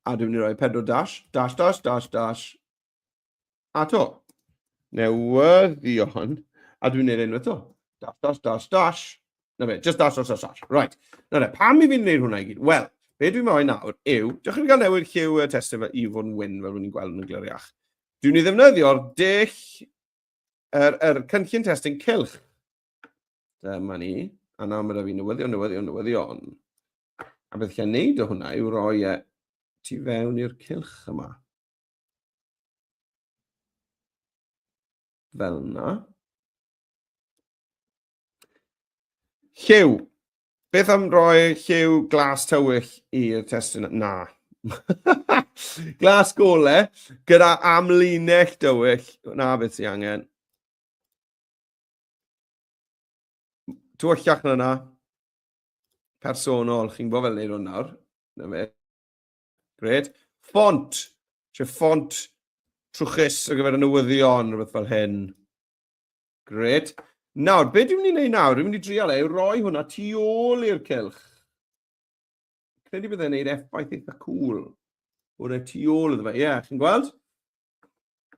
a dwi'n mynd i roi pedwar dash, dash, dash, dash, dash, a to. Newyddion, a dwi'n gwneud enw eto. Dash, dash, dash, dash. Na fe, just dash, dash, dash, dash. Right. Na fe, pam i fi'n gwneud hwnna i gyd? Wel, be dwi'n moyn nawr yw, diolch i gael newid lliw y testyn fe i fod yn wyn fel rwy'n gweld yn y gliriach. Dwi'n ni ddefnyddio'r dull, yr, er, er cynllun testyn cilch. Dyma ni. A nawr mae da fi newyddion, newyddion, newyddion. A beth chi'n neud o hwnna yw roi e tu fewn i'r cylch yma. Fel yna. Lliw. Beth am roi lliw glas tywyll i'r testyn? Na. glas gole gyda amlinell dywyll. Na beth sy'n angen. Tywyllach na na. personol, chi'n gwybod fel neud hwn nawr. Na fe. Gred. Font! Lle font trwchus ar gyfer y newyddion, rhywbeth fel hyn. Gred. Nawr, be dwi'n mynd i wneud nawr? Dwi'n mynd i drial e, yw roi hwnna tu ôl i'r cylch. Credu byddai'n gwneud effaith eitha cool. O'r e tu ôl iddo fe. Ie, yeah, chi'n gweld?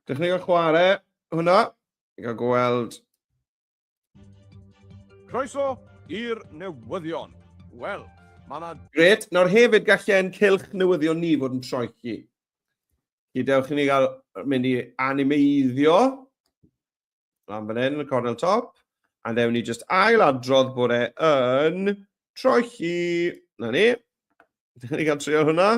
Dechrau gael chwarae hwnna. Gael gweld Croeso i'r newyddion. Wel, mae yna... Gret, nawr hefyd gallen cylch newyddion ni fod yn troi chi. Gydewch i ni gael mynd i animeiddio. Lan fan hyn, y cornel top. A ddewn ni just ail adrodd bod e yn troi chi. Na ni. Dyn ni gael trio hwnna.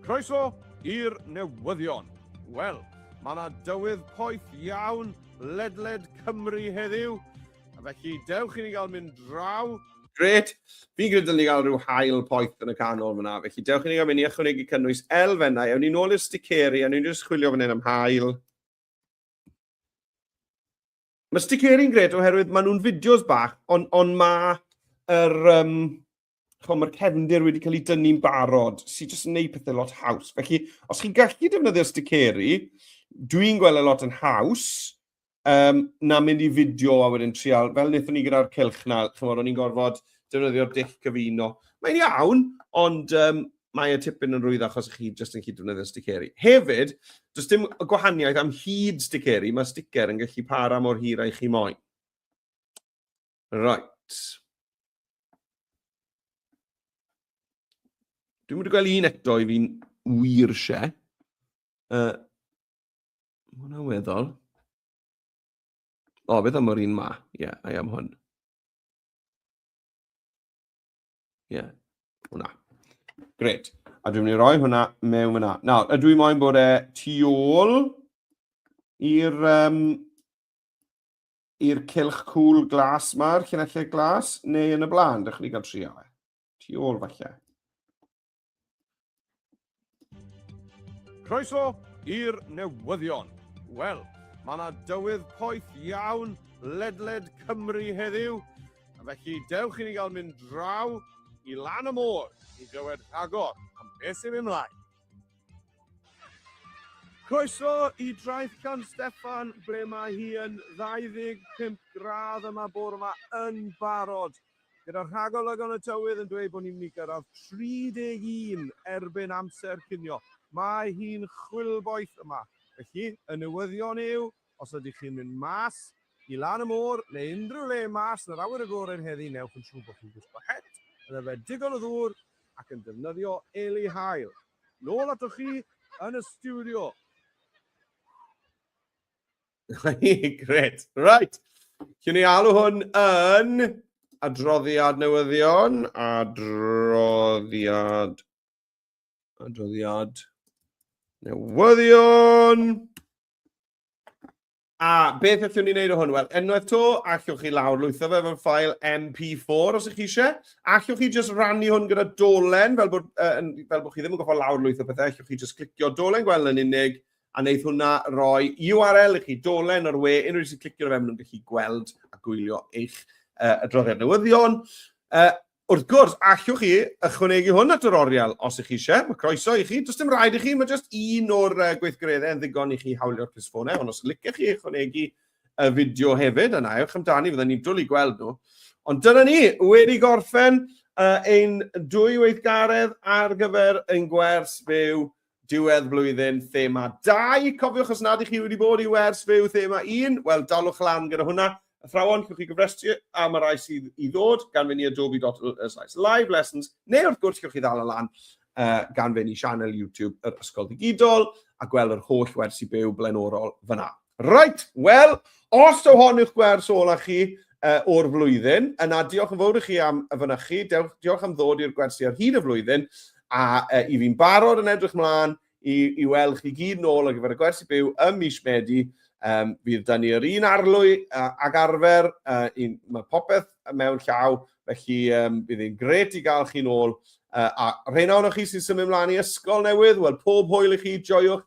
Croeso i'r newyddion. Wel, mae yna dywydd poeth iawn ledled Cymru heddiw, a felly dewch i ni gael mynd draw. Gret, fi'n gwneud dylwn ni gael rhyw hael poeth yn y canol fyna, felly dewch i ni gael mynd i ychwanegu cynnwys elfennau. Ewn ni'n ôl i'r sticeri, a ni'n just chwilio fan hyn am hael. Mae sticeri'n gret oherwydd maen nhw'n fideos bach, ond on mae yr, um, mae'r cefndir wedi cael ei dynnu'n barod, sy'n jyst yn gwneud pethau lot haws. Felly, os chi'n gallu defnyddio sticeri, dwi'n gweld y e lot yn haws, um, na mynd i fideo a wedyn trial, fel wnaethon ni gyda'r cilch na, chymod, o'n i'n gorfod defnyddio'r dill cyfuno. Mae'n iawn, ond um, mae y tipyn yn rwydd achos chi jyst yn cyd-defnyddio sticeri. Hefyd, does dim gwahaniaeth am hyd sticeri, mae sticer yn gallu para mor hir a'i chi moyn. Right. Dwi'n mynd i gweld un eto i fi'n wir se. Uh, mae hwnna'n weddol. O, beth am yr un ma? Ie, yeah, I am hwn. Ie, yeah. hwnna. Gret. A dwi'n mynd i roi hwnna mewn yna. Nawr, ydw i moyn bod e tu ôl i'r um, i'r cilch cwl glas ma'r cynellid glas, neu yn y blaen, dych chi'n cael trio e. Tu ôl falle. Croeso i'r newyddion. Wel, mae yna dywydd poeth iawn ledled Cymru heddiw, a felly dewch i ni gael mynd draw i lan y môr i glywed rhagor am beth sy'n mynd mlaen. Croeso i draeth gan Steffan, ble mae hi yn 25 gradd yma bore yma yn barod Gyda'r rhagolygon y tywydd yn dweud bod ni'n mynd i gyrraedd 31 erbyn amser cinio, mae hi'n chwilboeth yma. Felly, y newyddion yw, os ydych chi'n mynd mas i lan y môr neu unrhyw le mas yn yr awyr agored heddi, newch yn siŵr bod chi'n gwisgo het, yn yfed digon o ddŵr ac yn defnyddio eli haul. Nôl atoch chi yn y stiwdio. Gret. Right. Cyn ni alw hwn yn adroddiad newyddion, adroddiad, adroddiad newyddion. A beth allwn ni wneud o hwn? Wel, enwaith to, allwch chi lawr lwytho fe fel ffael MP4 os ych chi eisiau. Allwch chi just rannu hwn gyda dolen, fel bod, uh, fel bod chi ddim yn goffa lawr lwytho pethau, allwch chi just clicio dolen gweld yn unig, a wneith hwnna roi URL i chi, dolen o'r we, unrhyw un sy'n clicio fe, maen nhw'n gallu gweld a gwylio eich uh, adroddiad newyddion. Uh, wrth gwrs, allwch chi ychwanegu hwn at yr oriel os ych chi eisiau, mae croeso i chi, does dim rhaid i chi, mae jyst un o'r uh, gweithgareddau yn ddigon i chi hawlio'r clisfonau, ond os licech chi ychwanegu y fideo hefyd, yna ewch amdani, fydden ni'n dwlu gweld nhw. Ond dyna ni, wedi gorffen uh, ein dwy weithgaredd ar gyfer ein gwers byw Diwedd blwyddyn thema 2. Cofiwch os nad ych chi wedi bod i wers fyw thema 1, wel dalwch lan gyda hwnna. Athrawon, chiwch chi gyfrestru am y rai sydd i ddod gan fynd i adobe.ly live lessons, neu wrth gwrs chiwch chi ddal y lan uh, gan fynd i sianel YouTube yr Ysgol Digidol a gweld yr holl wersi byw blaenorol fyna. Reit, wel, os yw hon yw'ch gwers ola chi uh, o'r flwyddyn, yna diolch yn fawr i chi am y fynychu, diolch am ddod i'r gwersi ar hyd y flwyddyn, a uh, i fi'n barod yn edrych mlaen i, i weld chi gyd nôl ar gyfer y gwersi byw ym mis Medi. Um, fydd da ni yr un arlwy uh, ag arfer, uh, un, mae popeth mewn llaw, felly um, bydd hi'n gret i gael chi'n ôl. Uh, a rhain ohonoch chi sy'n symud ymlaen i ysgol newydd, wel pob hwyl i chi, joiwch